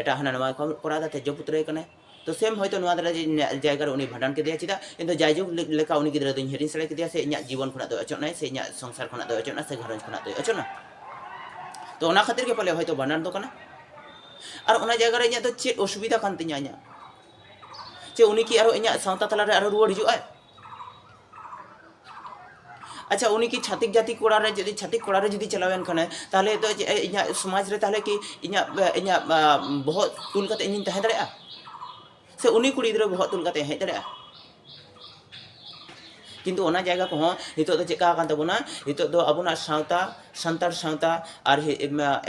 ᱮᱴᱟᱜ ᱦᱟᱱᱟ ᱱᱟᱣᱟ ᱠᱚ ᱠᱚᱨᱟᱣ ᱫᱟ ᱛᱮᱡᱽᱡᱚ ᱯᱩᱛᱨᱟᱹᱭᱮ ᱠᱟᱱᱟᱭ ᱛᱚ ᱥᱮᱢ ᱦᱚᱭᱛᱚ ᱱᱚᱣᱟ ᱫᱟᱨᱟ ᱡᱟᱭᱜᱟ ᱨᱮ ᱩᱱᱤ ᱵᱷᱟᱸᱰᱟᱱ ᱠᱮᱫᱮᱭᱟ ᱪᱮᱫᱟᱜ ᱤᱧ ᱫᱚ ᱡᱟᱭᱡᱩᱜᱽ ᱞᱮᱠᱟ ᱩᱱᱤ ᱜᱤᱫᱽᱨᱟᱹ ᱫᱚᱧ ᱦᱤᱲᱤᱧ ᱥᱟᱲᱮ ᱠᱮᱫᱮᱭᱟ ᱥᱮ ᱤᱧᱟᱹᱜ ᱡᱤᱵᱚᱱ ᱠᱷᱚᱱᱟᱜ ᱫᱚ ᱚᱪᱚᱜ ᱱᱟᱭ ᱥᱮ ᱤᱧᱟᱹᱜ ᱥᱚᱝᱥᱟᱨ ᱠᱷᱚᱱᱟᱜ ᱫᱚ ᱚᱪᱚᱜ ᱱᱟ ᱥᱮ ᱜᱷᱟᱨᱚᱸᱡᱽ ᱠᱷᱚᱱᱟᱜ ᱫᱚ ᱚᱪᱚᱜ ᱱᱟ ᱛᱚ ᱚᱱᱟ ᱠᱷᱟᱹᱛᱤᱨ ᱜᱮ ᱯᱟᱞᱮ ᱦᱚᱭᱛᱚ ᱵᱷᱟᱸᱰᱟᱱ ᱫᱚ ᱠᱟᱱᱟ ᱟᱨ ᱚᱱᱟ ᱡᱟᱭᱜᱟ ᱨᱮ ᱤᱧᱟᱹᱜ ᱫᱚ ᱪᱮᱫ ᱚᱥᱩᱵᱤᱫᱷᱟ ᱠᱟᱱ ᱛᱤᱧᱟ ᱤᱧᱟᱹᱜ ᱪᱮ ᱩᱱᱤ ᱠᱤ ᱟᱨᱚ ᱤᱧᱟᱹᱜ ᱥᱟᱶᱛᱟ ᱛᱟᱞᱟ ᱨᱮ ᱟᱨᱚ ᱨᱩᱣᱟᱹᱲ ᱦᱤᱡᱩᱜ ᱟᱭ ᱟᱪᱪᱷᱟ ᱩᱱᱤ ᱠᱤ ᱪᱷᱟᱛᱤᱠ ᱡᱟᱹᱛᱤ ᱠᱚᱲᱟ ᱨᱮ ᱡᱩᱫᱤ ᱪᱷᱟᱛᱤᱠ ᱠᱚᱲᱟ ᱨᱮ ᱡᱩᱫᱤ ᱪᱟᱞᱟᱣᱮᱱ ᱠᱷᱟᱱᱮ ᱛᱟᱦᱞᱮ ᱫᱚ ᱪᱮᱫ ᱤᱧᱟᱹᱜ ᱥᱚᱢᱟᱡᱽ ᱨᱮ ᱛᱟᱦᱞᱮ ᱠᱤ ᱤᱧᱟᱹᱜ ᱤᱧᱟᱹᱜ ᱵᱚᱦᱚᱜ ᱛᱩᱞ ᱠᱟᱛᱮ ᱤᱧᱤᱧ ᱛᱟᱦᱮᱸ ᱫᱟᱲᱮᱭᱟᱜᱼᱟ ᱥᱮ ᱩᱱᱤ ᱠᱩᱲᱤ ᱜᱤᱫᱽᱨᱟᱹ ᱵᱚᱦᱚᱜ ᱛᱩᱞ ᱠᱟᱛᱮ ᱦᱮᱡ ᱫᱟᱲᱮᱭᱟᱜᱼᱟ ᱠᱤᱱᱛᱩ ᱚᱱᱟ ᱡᱟᱭᱜᱟ ᱠᱚᱦᱚᱸ ᱱᱤᱛᱚᱜ ᱫᱚ ᱪᱮᱫᱠᱟ ᱟᱠᱟᱱ ᱛᱟᱵᱚᱱᱟ ᱱᱤᱛᱚᱜ ᱫᱚ ᱟᱵᱚᱱᱟᱜ ᱥᱟᱶᱛᱟ ᱥᱟᱱᱛᱟᱲ ᱥᱟᱶᱛᱟ ᱟᱨ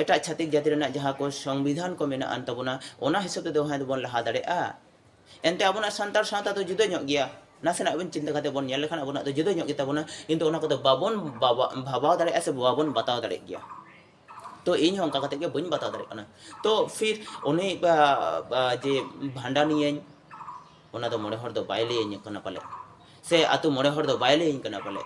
ᱮᱴᱟᱜ ᱪᱷᱟᱛᱤᱠ ᱡᱟᱹᱛᱤ ᱨᱮᱱᱟᱜ ᱡᱟᱦᱟᱸ ᱠᱚ ᱥᱚᱝᱵᱤᱫᱷᱟᱱ ᱠᱚ ᱢᱮᱱᱟᱜᱼᱟᱱ ᱛᱟᱵᱚᱱᱟ ᱚᱱᱟ ᱦᱤᱥᱟᱹᱵ ᱛᱮᱫᱚ ᱦᱮᱸ ᱫᱚᱵᱚᱱ ᱞᱟᱦᱟ ᱫᱟᱲᱮᱭᱟᱜᱼᱟ ᱮᱱᱛᱮ ᱟᱵᱚᱱᱟᱜ ᱥᱟᱱᱛᱟᱲ ᱥᱟᱶᱛᱟ ᱫᱚ ᱡᱩᱫᱟᱹ ᱧᱚᱜ ᱜᱮᱭᱟ ᱱᱟᱥᱮᱱᱟᱜ ᱵᱚᱱ ᱪᱤᱱᱛᱟᱹ ᱠᱟᱛᱮ ᱵᱚᱱ ᱧᱮᱞ ᱞᱮᱠᱷᱟᱱ ᱟᱵᱚᱱᱟᱜ ᱫᱚ ᱡᱩᱫᱟᱹ ᱧᱚᱜ ᱜᱮᱛᱟᱵᱚᱱᱟ ᱠᱤᱱᱛᱩ ᱚᱱᱟ ᱠᱚᱫᱚ ᱵᱟᱵᱚᱱ ᱵᱷᱟᱵᱟᱣ ᱫᱟᱲᱮᱭᱟᱜᱼᱟ ᱥᱮ ᱵᱟᱵᱚᱱ ᱵᱟᱛᱟᱣ ᱫᱟᱲᱮᱭᱟᱜ ᱜᱮᱭᱟ ᱛᱚ ᱤᱧ ᱦᱚᱸ ᱚᱱᱠᱟ ᱠᱟᱛᱮ ᱜᱮ ᱵᱟᱹᱧ ᱵᱟᱛᱟᱣ ᱫᱟᱲᱮᱭᱟᱜ ᱠᱟᱱᱟ ᱛᱚ ᱯᱷᱤᱨ ᱩᱱᱤ ᱡᱮ ᱵᱷᱟᱸᱰᱟᱱᱤᱭᱟᱹᱧ ᱚᱱᱟ ᱫᱚ ᱢᱚᱬᱮ ᱦᱚᱲ ᱫᱚ ᱵᱟᱭ ᱞᱟᱹᱭᱟᱹᱧ ᱠᱟᱱᱟ ᱯᱟᱞᱮᱫ ᱥᱮ ᱟᱛᱳ ᱢᱚᱬᱮ ᱦᱚᱲ ᱫᱚ ᱵᱟᱭ ᱞᱟᱹᱭᱟᱹᱧ ᱠᱟᱱᱟ ᱯᱟᱞᱮᱫ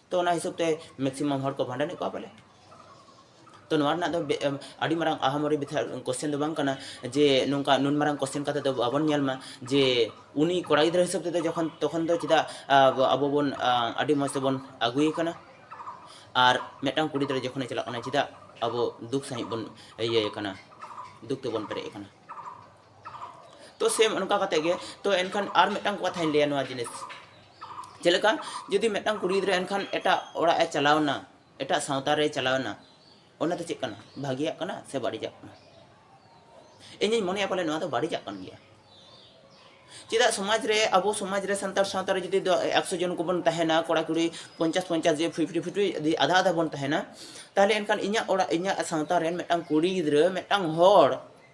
ᱛᱚ ᱚᱱᱟ ᱦᱤᱥᱟᱹᱵ ᱛᱮ ᱢᱮᱠᱥᱤᱢᱟᱢ ᱦᱚᱲ ᱠᱚ ᱵᱷᱟᱸᱰᱟᱱᱮᱫ ᱠᱚᱣᱟ ᱯᱟᱞᱮ ᱛᱚ ᱱᱚᱣᱟ ᱨᱮᱱᱟᱜ ᱫᱚ ᱟᱹᱰᱤ ᱢᱟᱨᱟᱝ ᱟᱦᱟᱢᱚᱨᱤ ᱵᱮᱯᱟᱨ ᱠᱚᱥᱪᱮᱱ ᱫᱚ ᱵᱟᱝ ᱠᱟᱱᱟ ᱡᱮ ᱱᱚᱝᱠᱟ ᱱᱩᱱ ᱢᱟᱨᱟᱝ ᱠᱚᱥᱪᱮᱱ ᱠᱟᱛᱮ ᱫᱚ ᱵᱟᱵᱚᱱ ᱧᱮᱞ ᱢᱟ ᱡᱮ ᱩᱱᱤ ᱠᱚᱲᱟ ᱜᱤᱫᱽᱨᱟᱹ ᱦᱤᱥᱟᱹᱵ ᱛᱮᱫᱚ ᱡᱚᱠᱷᱚᱱ ᱛᱚᱠᱷᱚᱱ ᱫᱚ ᱪᱮᱫᱟᱜ ᱟᱵᱚ ᱵᱚᱱ ᱟᱹᱰᱤ ᱢᱚᱡᱽ ᱛᱮᱵᱚᱱ ᱟᱹᱜᱩᱭᱮ ᱠᱟᱱᱟ ᱟᱨ ᱢᱤᱫᱴᱟᱝ ᱠᱩᱲᱤ ᱜᱤᱫᱽᱨᱟᱹ ᱡᱚᱠᱷᱚᱱᱮ ᱪᱟᱞᱟᱜ ᱠᱟᱱᱟ ᱪᱮᱫᱟᱜ ᱟᱵᱚ ᱫᱩᱠ ᱥᱟᱺᱦᱤᱡ ᱵᱚᱱ ᱤᱭᱟᱹᱭᱮ ᱠᱟᱱᱟ ᱫᱩᱠ ᱛᱮᱵᱚᱱ ᱯᱮᱨᱮᱡ ᱟᱠᱟᱱᱟ ᱛᱚ ᱥᱮᱢ ᱚᱱᱠᱟ ᱠᱟᱛᱮ ᱜᱮ ᱛᱚ ᱮᱱᱠᱷᱟᱱ ᱟᱨ ᱢᱤᱫᱴᱟᱝ ᱠᱟᱛᱷᱟᱧ ᱞᱟᱹᱭᱟ ᱱᱚᱣᱟ ᱡᱤᱱᱤᱥ ᱪᱮᱫ ᱞᱮᱠᱟ ᱡᱩᱫᱤ ᱢᱤᱫᱴᱟᱝ ᱠᱩᱲᱤ ᱜᱤᱫᱽᱨᱟᱹ ᱮᱱᱠᱷᱟᱱ ᱮᱴᱟᱜ ᱚᱲᱟᱜ ᱮ ᱪᱟᱞᱟᱣᱱᱟ ᱮᱴᱟᱜ ᱥᱟᱶᱛᱟ ᱨᱮ ᱪᱟᱞᱟᱣᱱᱟ ᱚᱱᱟ ᱫᱚ ᱪᱮᱫ ᱠᱟᱱᱟ ᱵᱷᱟᱹᱜᱤᱭᱟᱜ ᱠᱟᱱᱟ ᱥᱮ ᱵᱟᱹᱲᱤᱡᱟᱜ ᱠᱟᱱᱟ ᱤᱧᱤᱧ ᱢᱚᱱᱮᱭᱟ ᱯᱟᱞᱮ ᱱᱚᱣᱟ ᱫᱚ ᱵᱟᱹᱲᱤᱡᱟᱜ ᱠᱟᱱ ᱜᱮᱭᱟ ᱪᱮᱫᱟᱜ ᱥᱚᱢᱟᱡᱽ ᱨᱮ ᱟᱵᱚ ᱥᱚᱢᱟᱡᱽ ᱨᱮ ᱥᱟᱱᱛᱟᱲ ᱥᱟᱶᱛᱟ ᱨᱮ ᱡᱩᱫᱤ ᱮᱠᱥᱚ ᱡᱚᱱ ᱠᱚᱵᱚᱱ ᱛᱟᱦᱮᱱᱟ ᱠᱚᱲᱟ ᱠᱩᱲᱤ ᱯᱚᱧᱪᱟᱥ ᱯᱚᱧᱪᱟᱥ ᱡᱮ ᱯᱷᱤᱯᱴᱤ ᱯᱷᱤᱯᱴᱤ ᱡᱩᱫᱤ ᱟᱫᱷᱟ ᱟᱫᱷᱟ ᱵᱚᱱ ᱛᱟᱦᱮᱱᱟ ᱛᱟᱦᱞᱮ ᱮᱱᱠᱷᱟᱱ ᱤᱧᱟᱹᱜ ᱚᱲᱟᱜ ᱤᱧᱟᱹᱜ ᱥᱟᱶᱛᱟ ᱨᱮᱱ ᱢᱤᱫᱴᱟᱝ ᱠᱩᱲᱤ ᱜᱤᱫᱽᱨᱟᱹ ᱢᱤᱫᱴᱟᱝ ᱦᱚᱲ